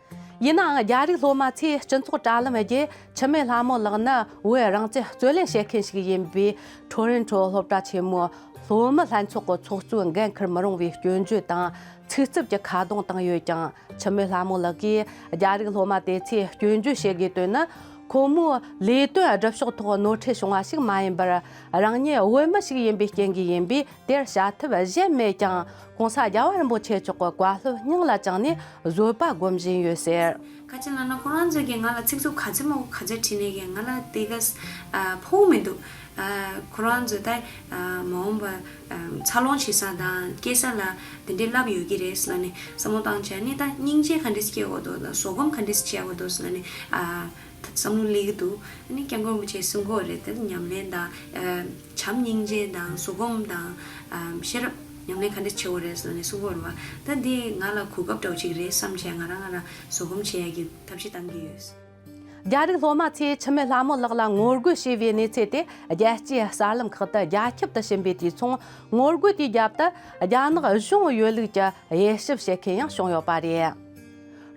ཡིན་ནའང་རྒྱ་རིགས་སློབ་མ་ཚོས་སྤྱི་ཚོགས་དྲ་ལམ་བརྒྱུད་འཆི་མེད་ལྷ་མོ་ལགས་ནི་བོད་རང་བཙན་རྩོད་ལེན་བྱེད་མཁན་ཞིག་ཡིན་པའི་ཁྲོ་རེན་ཁྲོ་སློབ་གྲྭ་ཆེན་མོའི་སློབ་མ་ལྷན་ཚོགས་ཀྱི་ཚོགས་གཙོའི་འགན་འཁུར་མི་རུང་བའི་སྐྱོན་བརྗོད་དང་ཚིག་རྩུབ་ཀྱི་ཁ་རྡུང་བཏང་ཡོད་ཀྱང་འཆི་མེད་ལྷ་མོ་ལགས་ཀྱིས་རྒྱ་རིགས་སློབ་མ་དེ་ཚོས་སྐྱོན་བརྗོད་བྱེད་དགོས་དོན་ནི་ཁོ་མོའི་ལས་དོན་སྒྲུབ་ཕྱོགས་ཐོག་ནོར་འཁྲུལ་བྱུང་བ་ཞིག་མ་ཡིན་པར་རང་ཉིད་བོད་མི་ཞིག་ཡིན་པའི་རྐྱེན་གྱིས་ཡིན་པས། དེར་བྱ་ཐབས་གཞན་མེད་ཀྱང་གོང་ས་རྒྱལ་བ་རིན་པོ་ཆེ་མཆོག་གི་བཀའ་སློབ་སྙིང་ལ་བཅངས་ནས་བཟོད་པ་སྒོམ་བཞིན་ཡོད་ཟེར། བཀའ་ཆེན་བླ་མ་ཁོང་རང་ཚོས་ཀྱིས་ང་ལ་ཚིག་རྩུབ་ག་ཚོད་མང་པོ་ག་ཚོད་བྲིས་ནས་ཀྱང་ང་ལ་དེ་ག་ཕོག་མི་འདུག། ཁོ་རང་ཚོས་ད་མ་འོངས་པར་འཚར་ལོངས་བྱེད་ས་དང་སྐྱེ་ས་ལ་དེ་འདྲའི་རླབས་ཡོད་ཀྱི་རེད་ཟེར་ནས་བསམ་བློ་བཏང་བྱས་ནས་ད་སྙིང་རྗེ་ག་འདྲས་སྐྱེ་བ་འདུག་ཟོག་སྒོམ་ག་འདྲས་བྱས་བ་འདུག་ཟེར་ནས་བསམ་བློ་ལེགས་འདུག་ཨ་ནི་སྐྱབས་མགོན་པོ་ཆེའི་གསུང་སྐོར་རེད་དེ་ཉམས་ལེན་དང། བྱམས་སྙིང་རྗེ་དང་གཟུགས་སྒོམ་དང། ཤེས་རབ་ཉམས་ལེན་ག་འདྲ་ཆེ་བོ་རེད་ཟེར་ནས་གསུང་སྐོར་རེད་པ། ད་འདི་ང་ལ་གོ་སྐབས་འདྲ་བོ་ཅིག་རེད་བསམ་བྱས་ང་རང་ང་རང་གཟུགས་སྒོམ་བྱེད་ཡག་གི་ཐབས་ཤེས་གཏང་གི་ཡོད། རྒྱ་རིགས་སློབ་མ་ཚོས་འཆི་མེད་ལྷ་མོ་ལགས་ལ་ངོ་རྒོལ་བྱས་པའི་གནས་ཚད་དེ་རྒྱལ་སྤྱིའི་གསར་ལམ་ཁག་ཏུ་རྒྱ་ཁྱབ་ཏུ་ཕྱིན་པའི་དུས་མཚུངས་ངོ་རྒོལ་དེའི་རྒྱབ་ཏུ་རྒྱ་ནག་གཞུང་ཡོད་ལུགས་ཀྱི་དབྱེ་ཞིབ་བྱེད་མཁན་ཡང་བྱུང་ཡོད་པ་རེད།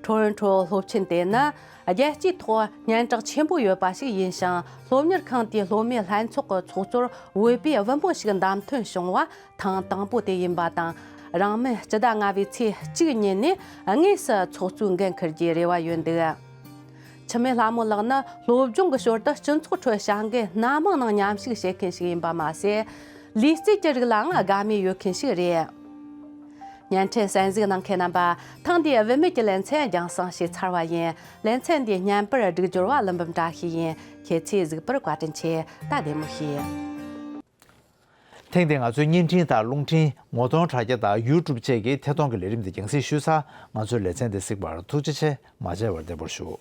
ཁྲོན་ཁྲོ་སློབ་ཆེན་དེ་ནི་རྒྱལ་སྤྱིའི་ཐོག་སྙན་གྲགས་ཆེན་པོ་ཡོད་པ་ཞིག་ཡིན་ཞིང་སློབ་གཉེར་ཁང་དེའི་སློབ་མའི་ལྷན་ཚོགས་ཀྱི་ཚོགས་གཙོར་འོས་པའི་དབུ་འབོད་ཞིག་བདམས་ཐོན་བྱུང་བ་ཐེངས་དང་པོ་དེ་ཡིན་པ་དང། རང་མི་སྤྱི་ཟླ་ལྔ་བའི་ཚེས་གཅིག་ཉིན་ནས་དངོས་སུ་ཚོགས་གཙོའི་འགན་འཁུར་རྒྱུའི་རེ་བ་ཡོད་འདུག་འཆི་མེད་ལྷ་མོ་ལགས་ནི་སློབ་སྦྱོང་གི་ཞོར་དུ་སྤྱི་ཚོགས་ཁྲོད་བྱ་འགུལ་སྣ་མང་ནང་ཉམས་ཞུགས་བྱེད་མཁན་ཞིག་ཡིན་པ་མ་ཟད། ལུས་རྩལ་གྱི་རིགས་ལའང་དགའ་མོས་ཡོད་མཁན་ཞིག་རེད། བརྙན་འཕྲིན་གསན་གཟིགས་གནང་མཁན་རྣམ་པ་ཐེངས་འདིའི་དབུ་མེད་ཀྱི་ལེ་ཚན་རྒྱང་བསྲིང་ཞིག་ཚར་བ་ཡིན། ལེ་ཚན་འདིའི་བརྙན་པར་སྒྲིག་སྦྱོར་བ་གླུ་འབུམ་བཀྲ་ཤིས་ཡིན་ཁྱེད་ཚོས་གཟིགས་པར་བཀའ་དྲིན་ཆེ་སྟབས་བདེ་མོ་ཞིག། ཐེངས་འདིའི་ང་ཚོའི་བརྙན་འཕྲིན་དང་རླུང་འཕྲིན་ངོ་གདོང་དྲ་རྒྱ་དང་ཡུའུ་ཀྲུབ་བཅས་ཀྱིས་ཐད་གཏོང་གི་ལས་རིམ་འདི་རྒྱང་བསྲིང་ཞུས་ཚར་ང་ཚོའི་ལེ་ཚན་འདི་གཟིགས་པར་ཐུགས་རྗེ་ཆེ་མ་ཆེ་བར་བདེ་པོར་བཞུགས།